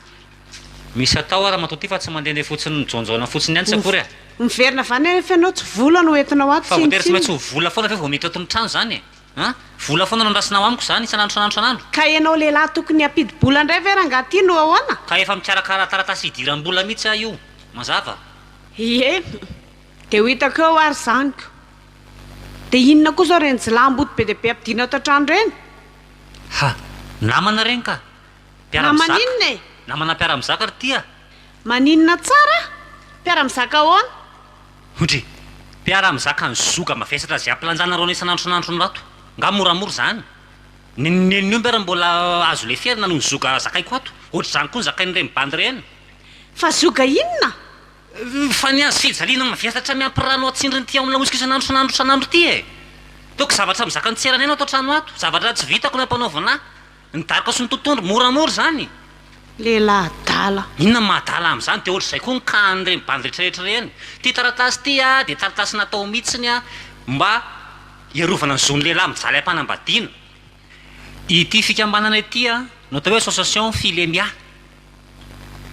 Misy atao aho ramatoa ty fa tsy mandehandeha fotsiny mijaonjaona fotsiny ihany tsy akory a. Miverina avy any anefa ianao tsy vola no entinao ato tsinona tsinona. Fa voatery tsy maintsy ho vola foana ve vao miditra ato ny trano izany e? An! Vola foana no andrasana ao amiko izany isan'andro isan'andro isan'andro. Ka ianao lehilahy tokony hampidi-bola indray ve rangaha ity no ahoana? Ka efa mikarakara taratasy hidiram-bola mihitsy aho io. Mazava? Ie! Dia ho hitako eo ary izany ko! Dia inona koa izao ireny jilamboto be dia be ampidirina ato an-trano ireny? Ha! Namana ireny ka! Mpiara-mizaka. Namana inona e? Namana mpiara-mizaka ry tia. Maninona tsara? Mpiara-mizaka ahoana? Hudry. Mpiara mizaka ny zoga mavesatra ze ampilanjana rona isanandro isanandro ny rato. Nga moramora izany? Ny nen'ny omby ary mbola azo leferina noho ny zoga zakaiko ato. Ohatr'izany koa ny zakain'ireny bandy ireny. Fa zoga inona? Fa ny azy fijaliana mavesatra miampy rano atsindriny ity ao amin'ny laotsiko isanandro isanandro isanandro ity e! Toa ko zavatra mizaka ny tseranay no ato an-trano ato. Zavatra tsy vitako no ampanaovina ahy. Ny daroka sy ny totohondry moramora izany. Lehilahy adala. Inona ny mahadala amin'izany dia ohatr'izay koa ny kahan'ireny bandy rehetrarehetra ireny. Ity taratasy ity dia taratasy natao mihitsiny mba hiarovana ny zon'ny lehilahy mijaly am-panambadiana. Ity fikambanana ity no atao hoe association Filemia,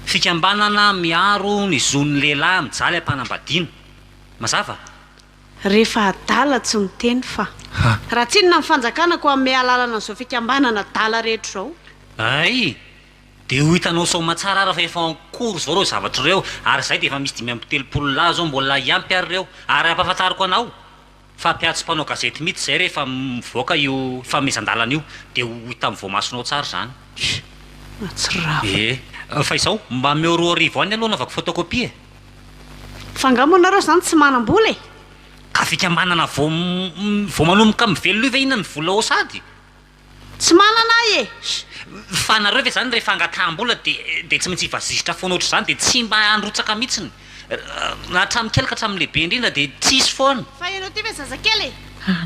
fikambanana miaro ny zon'ny lehilahy mijaly am-panambadiana. Mazava? Rehefa adala tsy miteny fa. Ha! Raha tsinona ny fanjakana koa hanome alalana an'izao fikambanana adala rehetra izao. Hay! Dia ho hitanao soamatsara ary fa efa en cours izao ireo zavatra ireo ary izahay dia efa misy dimy amby telopolo lahy izao mbola hiampy ary ireo ary hampahafantariko anao fa mpiantso mpanao gazety mihitsy izahay rehefa mivoaka io fanomezan-dalana io dia ho hita amin'ny voamasonao tsara izany. Mahatsiravina. Ee. Fa izao, mba ameo roa arivo any aloha hanaovako photocopie e. Fa nga moa nareo zany tsy manambola e! Ka fikambanana vao vao manomboka mivelona io ve hihinana ny vola ao sady? Tsy manana ahy e! Fa nareo ve zany rehefa angataham-bola de de tsy maintsy hivazizitra foana ohatr'izany de tsy mba handrotsaka mitsiny? Na hatramin'ny kely ka hatramin'ny lehibe indrindra de tsisy foana! Fa ianao ty ve zazakely e!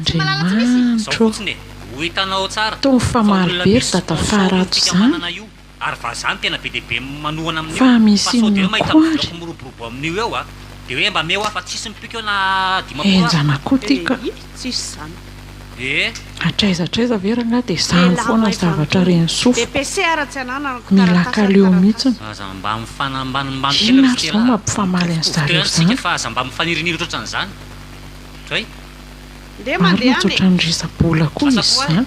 Tsy malala tsy misy e! Zao fotsiny e! Ho hitanao tsara! Tony fa maro be ry dada faharato zany! ary vazaha no tena be dia be manohana amin'io fa misy inona koa ary? fa sao dia hoe mahita bozaka miroborobo amin'io eo a! dia hoe mba meo aho fa tsisy mipiko eo na dimampolo aza! enjana koa ity ka! Eii tsisy izany! Ee! Hatraiza hatraiza ve rangahy dia izany foana ny zavatra Renisoa fa mila kaleo mihitsiny! Aza mba mifanambanimbany kely ry stella a! Inona ary izao mampifamaly an'i zareo izany? fa aza mba mifanirianiry ohatran'izany! Zay! Marina tsy ohatran'ny risa-bola koa izy izany!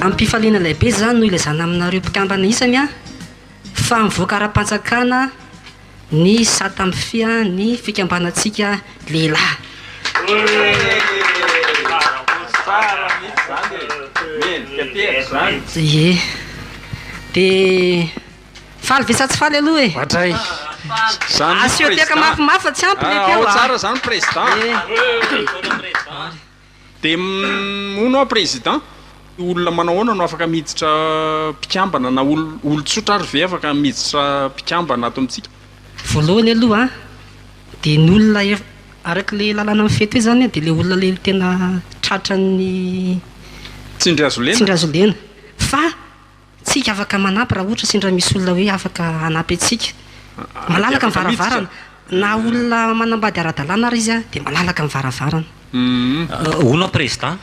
Amim-pifaliana lehibe izany no ilazana aminareo mpikambana isany fa mivoaka ara-panjakana ny sata mifehy ny fikambanantsika lehilahy. Dia moa no président olona manao ahoana no afaka miditra mpikambana na olon-tsotra ary ve afaka miditra mpikambana ato amintsika? Voalohany aloha dia ny olona araka ilay lalàna mifehy teo izany dia ilay olona ilay tena tratran'ny tsindry hazo lena fa Tsika afaka manampy raha ohatra sendra misy olona hoe afaka hanampy antsika. Malalaka ny varavarana. Na olona manambady ara-dalàna ary izy dia malalaka ny varavarana. Hono prezda,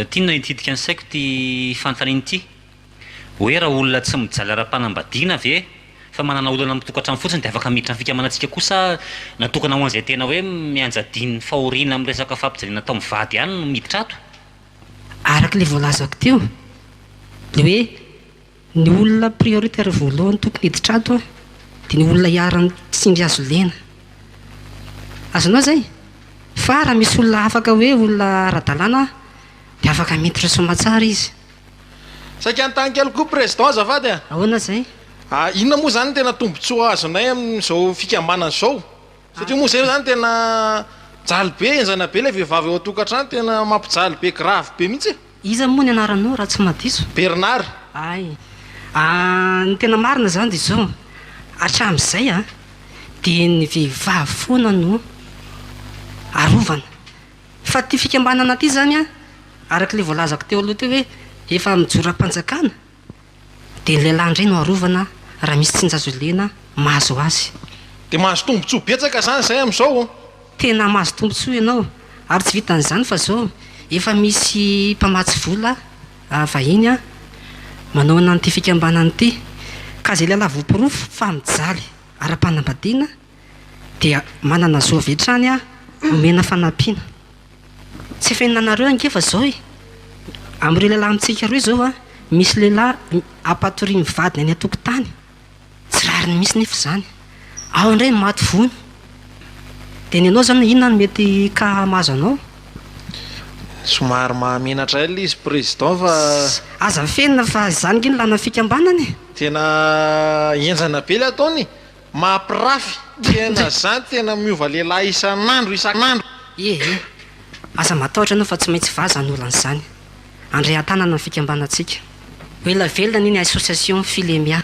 tinona hitsidika ny saiko ity fanontaniana ity. Hoe raha olona tsy mijaly ara-panambadiana ve fa manana olana amin'ny tokantrano fotsiny dia afaka miditra amin'ny fikamanantsika koa sa natokana ho an'izay tena hoe mianjadian'ny fahoriana amin'ny resaka fampijaliana atao mivady ihany no miditra ato? Araka ilay voalazako teo, ny hoe ny olona prioritaire voalohany tokony hiditra ato an, dia ny olona iharan'ny tsindry hazo lena. Azonao izay? Fa raha misy olona afaka hoe olona ara-dalàna an, dia afaka miditra soamatsara izy. Saika hanontany kely koa Président azafady an! Ahoana izay? Inona moa izany ny tena tombontsoa azonay amin'izao fikambanana izao? Satria moa zay zany tena jaly be enjana be ilay vehivavy ao an-tokantrano tena mampijaly be grave be mihitsy e. Iza moa ny anaranao raha tsy mahadiso? Bernard. Hay an, ny tena marina izany dia izao, hatramin'izay an, dia ny vehivavy foana no arovana. Fa ity fikambanana ity izany an, araka ilay voalazako teo aloha teo hoe efa amin'ny joram-panjakana, Dia ny lehilahy indray no arovana raha misy tsinja azo ilena mahazo azy. Dia mahazo tombontsoa betsaka izany izay amin'izao. Tena mahazo tombontsoa ianao. Ary tsy vitan'izany fa izao efa misy mpamatsy vola vahiny manao an'ity fikambanana ity. Ka izay lehilahy voaporofo fa mijaly ara-panambadiana dia manana zo avy hatrany omena fanampiana. Tsy efa henonanareo ange fa zao e! Amin'ireo lehilahy amintsika roa izao an, misy lehilahy ampatoriany ny vadiny any an-tokotany, tsy rariny mihitsy nefa izany. Ao indray ny maty vono. Dia ny anao izany inona no mety ka mahazo anao? Somary mahamenatra ela izy président fa. Aza mifenina fa izany ange ny lanan'ny fikambanana e! Tena henjana be ilay ataony e! Mampirafy tena zany tena miova lehilahy isan'andro isan'andro. Ee ee. Aza matahotra anao fa tsy maintsy vaza ny olana izany. Andrean-tanana ny fikambanantsika. Ho ela velona anie ny association Filemia.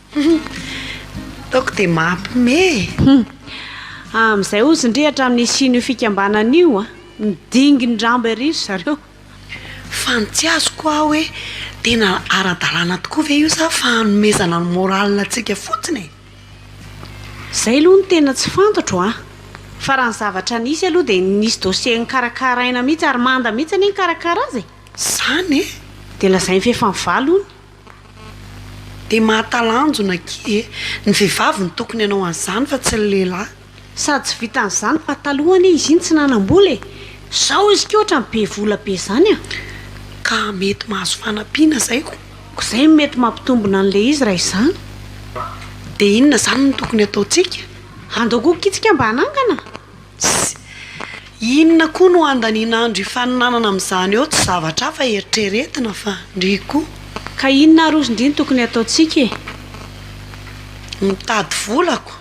Ataoko dia mampme e! Amin'izay hozy ndry hatramin'ny hisian'io fikambanana io a! Midingy ny rambo ery ry zareo. Fa ny tsy azoko hoa hoe tena ara-dalàna tokoa ve io sa fa hanomezana ny morale antsika fotsiny e? Izay aloha no tena tsy fantatro a! Fa raha ny zavatra nisy aloha dia nisy dossier nikarakaraina mihitsy ary manda mihitsy anie nikarakara azy e! Izany e! Dia lazainy fa efa nivaly hono. Dia mahatalanjona akia e! Ny vehivavy no tokony hanao an'izany fa tsy ny lehilahy. Sady tsy vitan'izany fa taloha anie izy iny tsy nanam-bola e! Zao izy ity ohatrany be vola be zany an! Ka mety mahazo fanampiana zay ko! Ko zay no mety mampitombina an'ilay izy raha izany. Dia inona zany no tokony ataontsika? Andao koa akia tsika mba hanangana? Tsy. Inona koa no handaniana andro hifaninanana amin'izany eo, tsy zavatra hafa eritreretina fa ndry koa. Ka inona ary ozy ndry no tokony hataontsika e? Mitady volako.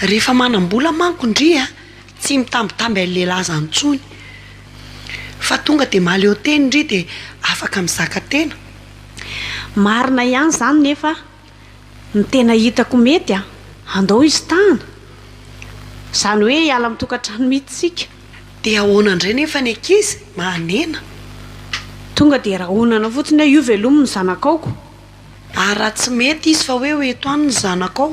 Rehefa manam-bola manko ndry a, tsy mitambitamby an'ilay laza intsony. Fa tonga dia mahaleo teny ndry dia afaka mizaka tena. Marina ihany izany nefa a! ny tena hitako mety a, andao izy tany, izany hoe hiala amin'ny tokantrano mihitsy isika. Dia ahoana indray nefa ny ankizy? Mahanena. Tonga dia rahonana fotsiny hoe io veloma ny zanakao ko. Ary raha tsy mety izy fa hoe ho eto any ny zanakao?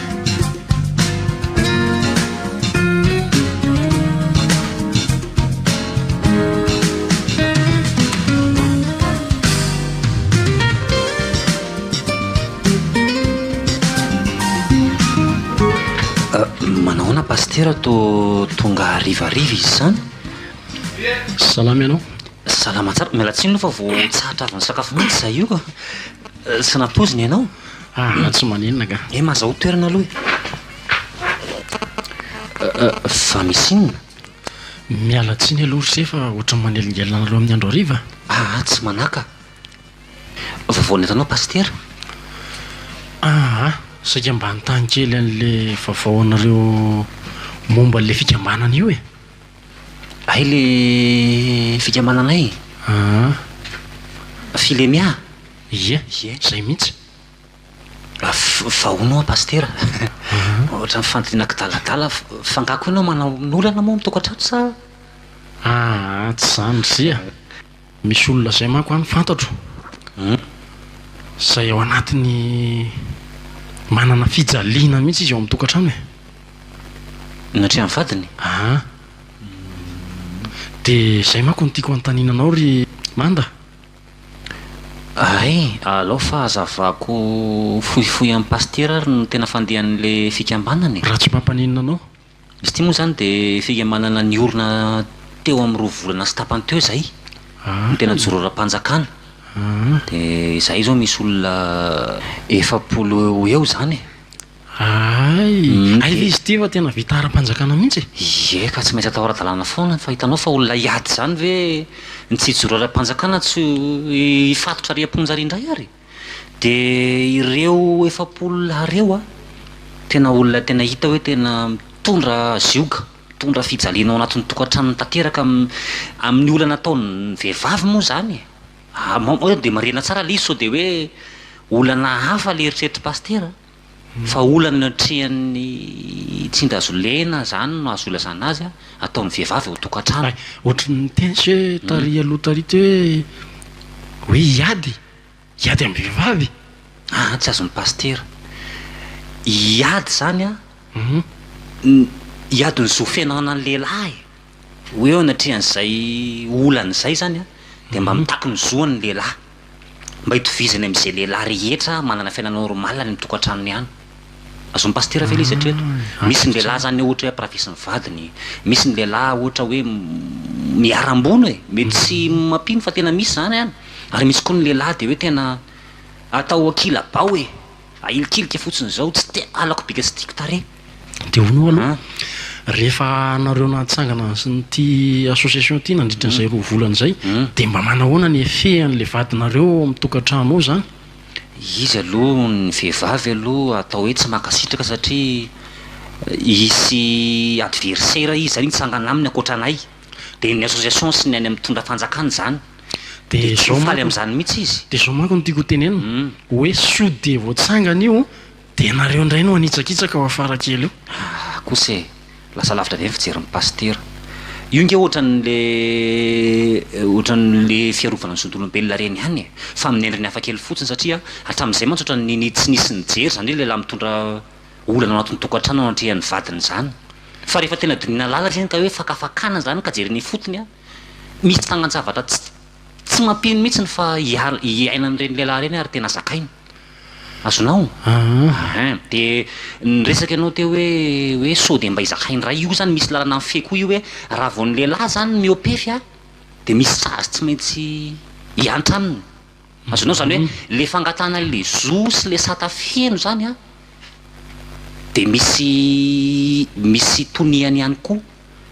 Manahoana Pasitera toa tonga harivariva izy izany? Salama ianao? Salama tsara. Miala tsiny aloha fa vao tsahatra avy nisakafo mihitsy izahay io ka. Tsy nampoizina ianao? Aa tsy maninona nga. He mazao toerana aloha e. Fa misy inona? Miala tsiny aloha ry se fa ohatran'ny manelingelina anareo amin'ny andro hariva a! Aa tsy manaka. Vaovao nentanao Pasitera? Aa saika mba hanontany kely an'ilay vaovao anareo momba an'ilay fikambanana io e! Hay ilay fikambananay? Aa. Filemea? Ie, izay mihitsy. Vao noa Pasitera, ohatran'ny fandiriana kidaladala, f'angaha koa ianao manana olana moa amin'ny tokantrano sa? Aa, tsy izany Rizia, misy olona izay manko any fantatro, izay ao anatin'ny manana fijaliana mihitsy izy ao amin'ny tokantrano e. Ny hatrehan'ny vadiny? Aa, dia izay manko no tiako hanontaniana anao ry Manda. Hay, alao fa hazavako fohifohy amin'i Pasitera ary ny tena fandehan'ilay fikambanana e! Raha tsy mampaninona anao. Izy ity moa izany dia fikambanana niorina teo amin'ny roa volana sy tapany teo izay, ny tena joro ara-panjakana. Dia izahay izao misy olona efapolo eo ho eo izany e! Hay! Hay ilay izy ity fa tena vita ara-panjakana mihitsy e! Ie ka tsy maintsy atao ara-dalàna foana fa hitanao fa olona hiady izany ve ny tsy hijoro ara-panjakana tsy hifatotra ary am-ponja ary indray ary? Dia ireo efapolo lahy ireo an! Tena olona tena hita hoe tena mitondra zioga, mitondra fijaliana ao anatin'ny tokantranony tanteraka amin'ny olana ataon'ny vehivavy moa izany e! Dia marihina tsara ilay izy sao dia hoe olana hafa ilay eritreritry Pasitera an! Fa olana eo an-trehan'ny tsindazolena zany no azo ilazana azy ataon'ny vehivavy ao an-tokantrano. Ohatran'ny miteny tsy hoe tary aloha tary ty hoe hoe hiady, hiady amin'ny vehivavy. Aa tsy azon'ny pasitera. Hiady zany an, hiady ny zo feno anan'ny lehilahy. Hoe eo anatrehan'izay olana izay zany an dia mba mitaky ny zoany ny lehilahy. mba itovizany amin'izay lehilahy rehetra manana fiainana normaly any amin'ny tokantranony ihany. Azon'ny Pasitera ve ilay izy hatreto? Misy ny lehilahy izany ohatra hoe ampirafesy ny vadiny, misy ny lehilahy ohatra hoe miharam-bono e! Mety tsy mampino fa tena misy izany an! Ary misy koa ny lehilahy dia hoe tena atao ankilabao e! Ahilikilika fotsiny zao tsy te halako bika tsy tiako tarehy. Dia hono io aloha rehefa anareo nahatsangana an'ity association ity nandritra an'izay roa volana izay dia mba manahoana ny effet an'ilay vadinareo ao amin'ny tokantrano ao izany? Izy aloha ny vehivavy aloha atao hoe tsy mankasitraka satria hisy adversaire izy zany hitsangana aminy ankoatra anay. Dia ny association sy ny any amin'ny mitondra fanjakana izany dia tsy ho faly amin'izany mihitsy izy. Dia izao manko no tiako hotenenina, hoe sao dia vao tsangana io dia ianareo indray no hanitsakitsaka ao afara kely eo. Ahh kosa e! Lasa lavitra ve ny fijerin'ny pasitera? Io nge ohatran'le ohatran'le fiarovana ny zon'olombelona ireny ihany e! Fa amin'ny endriny hafa kely fotsiny satria hatramin'izay mantsy ohatran'ny tsy nisy nijery izany hoe lehilahy mitondra olana ao anatin'ny tokantrano anatrehan'ny vadiny izany fa rehefa tena dinihina lala izy iny ka hoe fakafakana izany ka jerena ifotony an, misy tsangan-javatra tsy tsy mampino mihitsiny fa hiala hiaina an'ireny lehilahy ireny ary tena zakainy. Azonao? Ahaa. Dia niresaka ianao teo hoe hoe sao dia mba hizakainy iray io izany misy lalana mifehy koa io hoe raha vao ny lehilahy izany miopefy an dia misy sazy tsy maintsy hiantra aminy. Azonao zany hoe le fangatahana anle zo sy le sata feno zany an de misy misy toniany ihany koa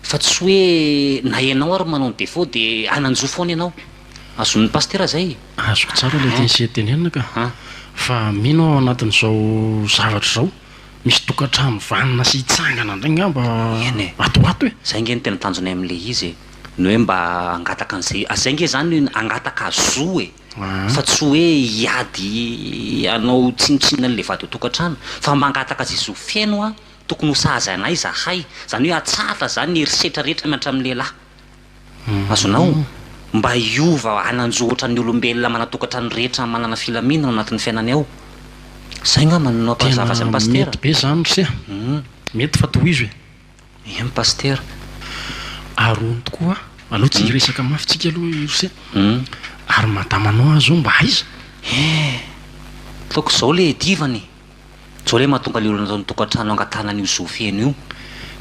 fa tsy hoe na ianao ary manao ny defaut de hanan-jo foana ianao. Azon'ny pasitera zay e! Azoko tsara ilay tnisian'ny tenenina ka! Fa mino aho anatin'izao zavatra izao misy tokantrano vanona sy hitsangana indray ngamba ato ho ato e! Zay nge no tena tanjonay amin'ilay izy e! ny hoe mba hangataka an'izay, zay nge zany hangataka zo e, fa tsy hoe hiady hanao tsinontsinona an'le vady ao tokantrano, fa mba hangataka ze zo feno an, tokony ho sahaza anay zahay, zany hoe atsahatra zany ny herisetra rehetra miantra amin'ny lehilahy, azonao? mba hiova hanan-jo otran'ny olombelona manana tokantrano rehetra manana filaminana ao anatin'ny fiainany ao, zay ngambany no ampahazava azy an'i pasitera. Tena mety be zany ry se a, mety fa tohizo e. Eny Pasitera, aroany tokoa a! Aleo tsy hiresaka mafy tsika aloha Irse, ary madama anao aza zao mba aiza? Eeh! Ataoko zao le edivana e! Zao le mahatonga le olona tao an-tokantrano hangatahana an'io zo feno io.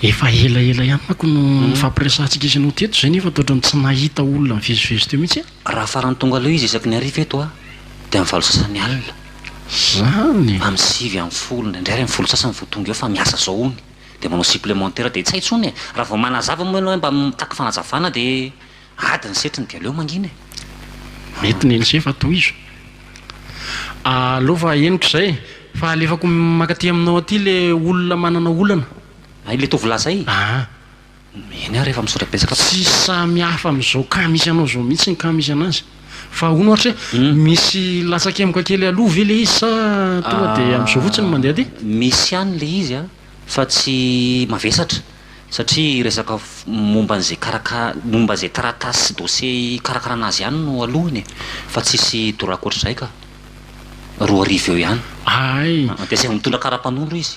Efa ela ela ihany manko no nifampiresahantsika sy anao teto zay nefa toetran'ny tsy nahita olona nivezivezy teo mihitsy a! Raha farany tonga leo izy isaky ny hariva eto a! Dia amin'ny valo sasany alina. Zany e! Amin'ny sivy ambin'ny folo, indraindray ary amin'ny folo sasany vao tonga eo fa miasa zao hono e! Dia manao supplémentaire dia tsy hay intsony e! Raha vao manazava moa ianao hoe mba mitaky fanazavana dia ady ny setriny dia aleo mangina e! Mety ny an'ise fa tohizo. Aleo fa henoko izay e! Fa alefako mankaty aminao aty ilay olona manana olana. Ilay tovolahy izay? Aa! Eny ary efa misaotra betsaka fa. Tsy samy hafa amin'izao cas misy anao izao mihitsy ny cas misy anazy. Fa ahoana ohatra hoe misy latsa-kemoka kely aloha ve ilay izy sa tonga dia amin'izao fotsiny no mandeha dia. Misy ihany ilay izy a, fa tsy mavesatra satria resaka momba an'izay karaka, momba izay taratasy sy dossier hikarakarana azy ihany no alohany e. Fa tsisy dorà ankoatr'izay ka. Roa arivo eo ihany. Hay. Dia tsy azo mitondra kara mpanondro izy.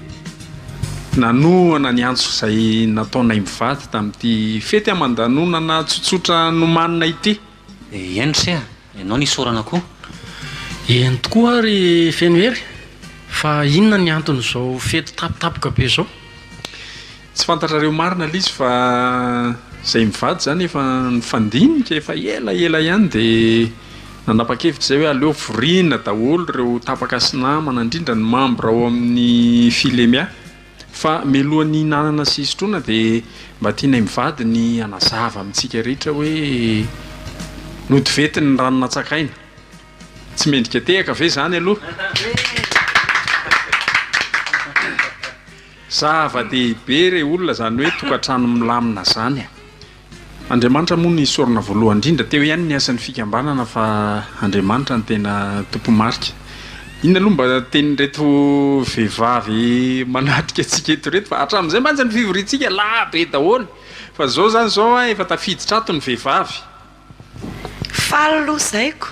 Nanohana ny antso izay nataonay mivady tamin'ity fety aman-danonana tsotsotra nomanina ity. Eny ry seha, ianao ny isaorana koa. Eny tokoa aho ry Fenohery, fa inona ny anton'izao fety tampotampoka be izao? Tsy fantatrareo marina lisy fa zay mivady zany efa nifandinika efa ela ela ihany de nanapa-kevitra zay hoe aleo vorina daholo reo tapaka sy namana indrindra ny membre ao amin'ny filemia fa meloha ny hinanana sy hisotroana de mba tianay mivady ny hanazava amintsika rehetra hoe nody vety ny rano natsakaina tsy mendrika tehaka ve zany aloha. Zava dehibe re olona zany hoe tokatrano milamina zany a! Andriamanitra moa no isaorana voalohany indrindra, teo ihany ny asan'ny fikambanana fa Andriamanitra no tena tompo marika. Inona aloha mba tenin'ireto vehivavy manatrika antsika eto ireto fa hatramin'izay mantsy ny fivoriantsika lahabe daholo fa zao zany zao a efa tafiditra ato ny vehivavy Faly aloha zaiko,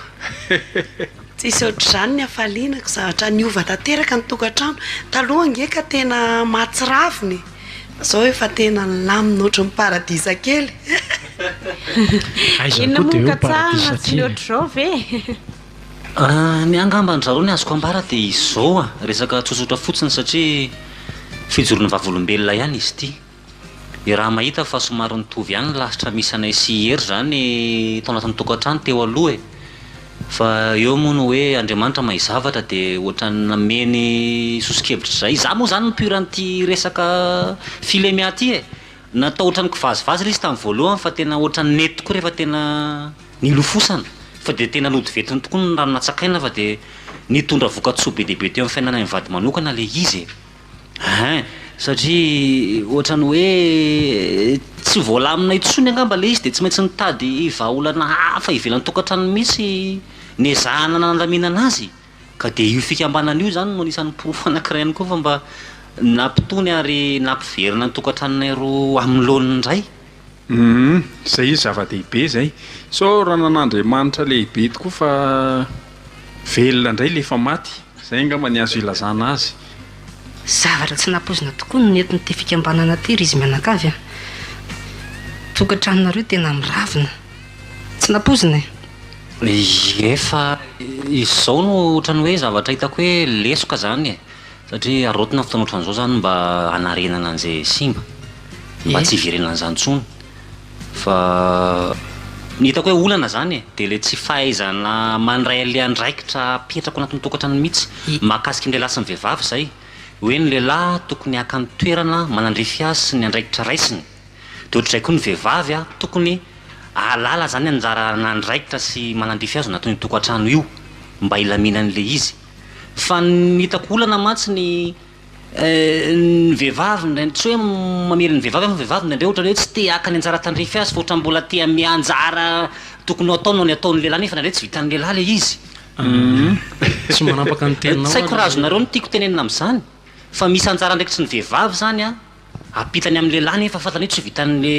tsisy ohatr'izany ny hafalianako, zavatra niova tanteraka ny tokantrano, taloha ange ka tena mahatsiravina e, fa zao efa tena nilamina ohatran'ny paradisa kely Inona moa no katsahina, tsy ny ohatr'izao ve? Ny ahy angamba an-dry zareo ny azoko ambara dia izao a, resaka tsotsotra fotsiny satria fijoroana vavolombelona ihany izy ity. Dia raha mahita fa somary nitovy ihany ny lasitra misy anay sy i Hery izany tao anatin'ny tokantrano teo aloha e! Fa eo moa ny hoe Andriamanitra mahay zavatra dia ohatran'ny nameny soso-kevitra izay izaho moa izany mi-pur an'ity resaka Filemea ity e! Natao ohatran'ny kivazivazy ilay izy tamin'ny voalohany fa tena ohatran'ny nety tokoa rehefa tena nilofosana fa dia tena nody ventiny tokoa ny rano natsakaina fa dia nitondra voka-tsoa be dia be teo amin'ny fiainanay mivady manokana ilay izy e! Hein, satria ohatran'ny hoe tsy voalamina intsony angamba ilay izy dia tsy maintsy nitady vahaolana hafa ivelan'ny tokantrano mihitsy niezahana nandaminana azy ka dia io fikambanana io izany no anisan'ny porofo anankiray ihany koa fa mba nampitony ary nampiverina ny tokantranonay roa amin'ny laoniny indray. Humm zay izy zava-dehibe zay. Sao ranan'Andriamanitra lehibe tokoa fa velona indray ilay efa maty. Izay angamba ny azo ilazana azy. Zavatra tsy nampoizina tokoa no nentin'ity fikambanana ity ry izy mianakavy a! Tokantranonareo tena miravona. Tsy nampoizina e! Ie fa izao no ohatran'ny hoe zavatra hitako hoe lesoka izany e! Satria arotina ny fotoana ohatran'izao izany mba hanarenana an'izay simba, mba tsy hiverenan'izany intsony fa ny hitako hoe olana izany e, dia ilay tsy fahaizana mandray an'ilay andraikitra apetrako anatin'ny tokantrano mihitsy, mahakasika ny lehilahy sy ny vehivavy izay, hoe ny lehilahy tokony haka ny toerana manandrify azy sy ny andraikitra raisiny, dia ohatr'izay koa ny vehivavy tokony hahalala izany anjara an'andraikitra sy manandrify azy ao anatin'io tokantrano io mba hilaminan'ilay izy. Fa ny hitako olana mantsy ny ny vehivavy indray, tsy hoe mamely ny vehivavy aho fa ny vehivavy indraindray ohatra ny hoe tsy te haka ny anjara tandrify azy fa ohatra mbola te hame anjara tokony ho ataony ho an'ny ataon'ny lehilahy nefa indraindray tsy vitan'ny lehilahy ilay izy. Tsy manapaka ny teninao Tsy haiko raha azonareo ny tiako tenenina amin'izany fa misy anjara andraikitry ny vehivavy izany an, ampitany amin'ny lehilahy nefa fantany hoe tsy ho vitan'ny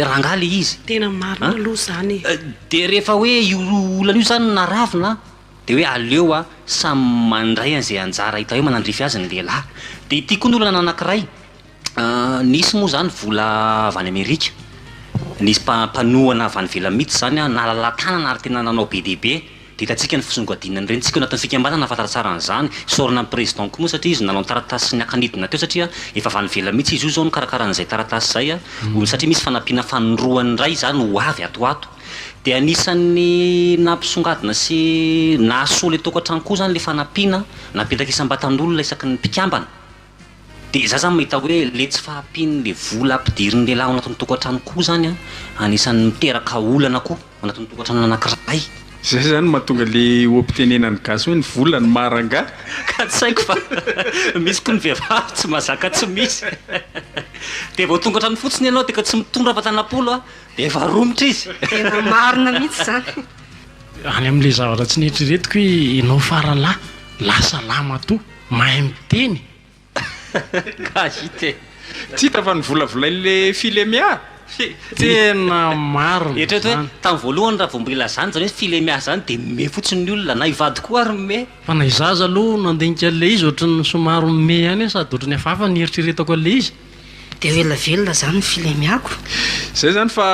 rangahy ilay izy. Tena marina aloha izany e. Dia rehefa hoe io olana io izany no naravona Dia hoe aleo a samy mandray an'izay anjara hita hoe manandrify azy ny lehilahy. Dia ity koa ny olana anankiray, nisy moa izany vola avy any Amerika, nisy mpa- mpanohana avy any ivelany mihitsy izany an, nahalala tanana ary tena nanao be dia be. Dia hitantsika ny fisongadinana ny renintsika ao anatin'ny fikambanana nahafantatra tsara an'izany. Fisaorana an'i Président koa moa satria izy nanao ny taratasy sy ny haka nidina teo satria efa avy any ivelany mihitsy izy io izao nikarakara an'izay taratasy izay an, satria misy fanampiana fanindroany iray izany ho avy ato ho ato. Dia anisan'ny nampisongadina sy nahasolo ilay tokantrano koa izany ilay fanampiana napetraka isam-batan'olona isaky ny mpikambana. Dia za zany mahita hoe ilay tsy fahampian'ilay vola ampidirin'ny lehilahy ao anatin'ny tokantrano koa izany an, anisan'ny miteraka olana koa ao anatin'ny tokantrano anankiray. Izay izany no mahatonga ilay hoampitenenan'ny gasy hoe ny vola no maha rangahy. Ka tsy haiko fa misy koa ny vehivavy tsy mahazaka tsy misy. Dia vao tonga hatrany fotsiny ianao dia ka tsy mitondra fa tanampolo an. Efa romotra izy. Tena marina mihitsy izany. Any amin'ilay zavatra tsy neritreretiko hoe ianao fara lahy, lahy salama toa, mahay miteny. KJT. Tsy hita fa novolavolain'ilay Filemea? Tena marina izany. Eritrereto hoe tamin'ny voalohany raha vao mbola ilazana izany hoe Filemea izany dia mihomehy fotsiny ny olona, na hivady koa ary mihomehy. Fa na izaho aza aloha nandinika an'ilay izy ohatran'ny somary mihomehy ihany hoe sady ohatran'ny hafahafa ny eritreretako an'ilay izy. Dia ho ela velona zany ny filemiako. Zay zany fa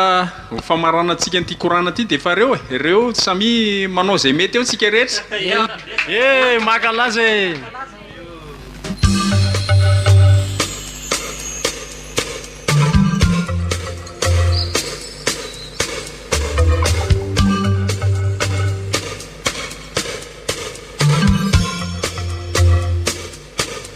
ho famaranantsika an'ity korana ty defa reo e reo samia manao zay mety eo tsika rehetra eh makalaza eh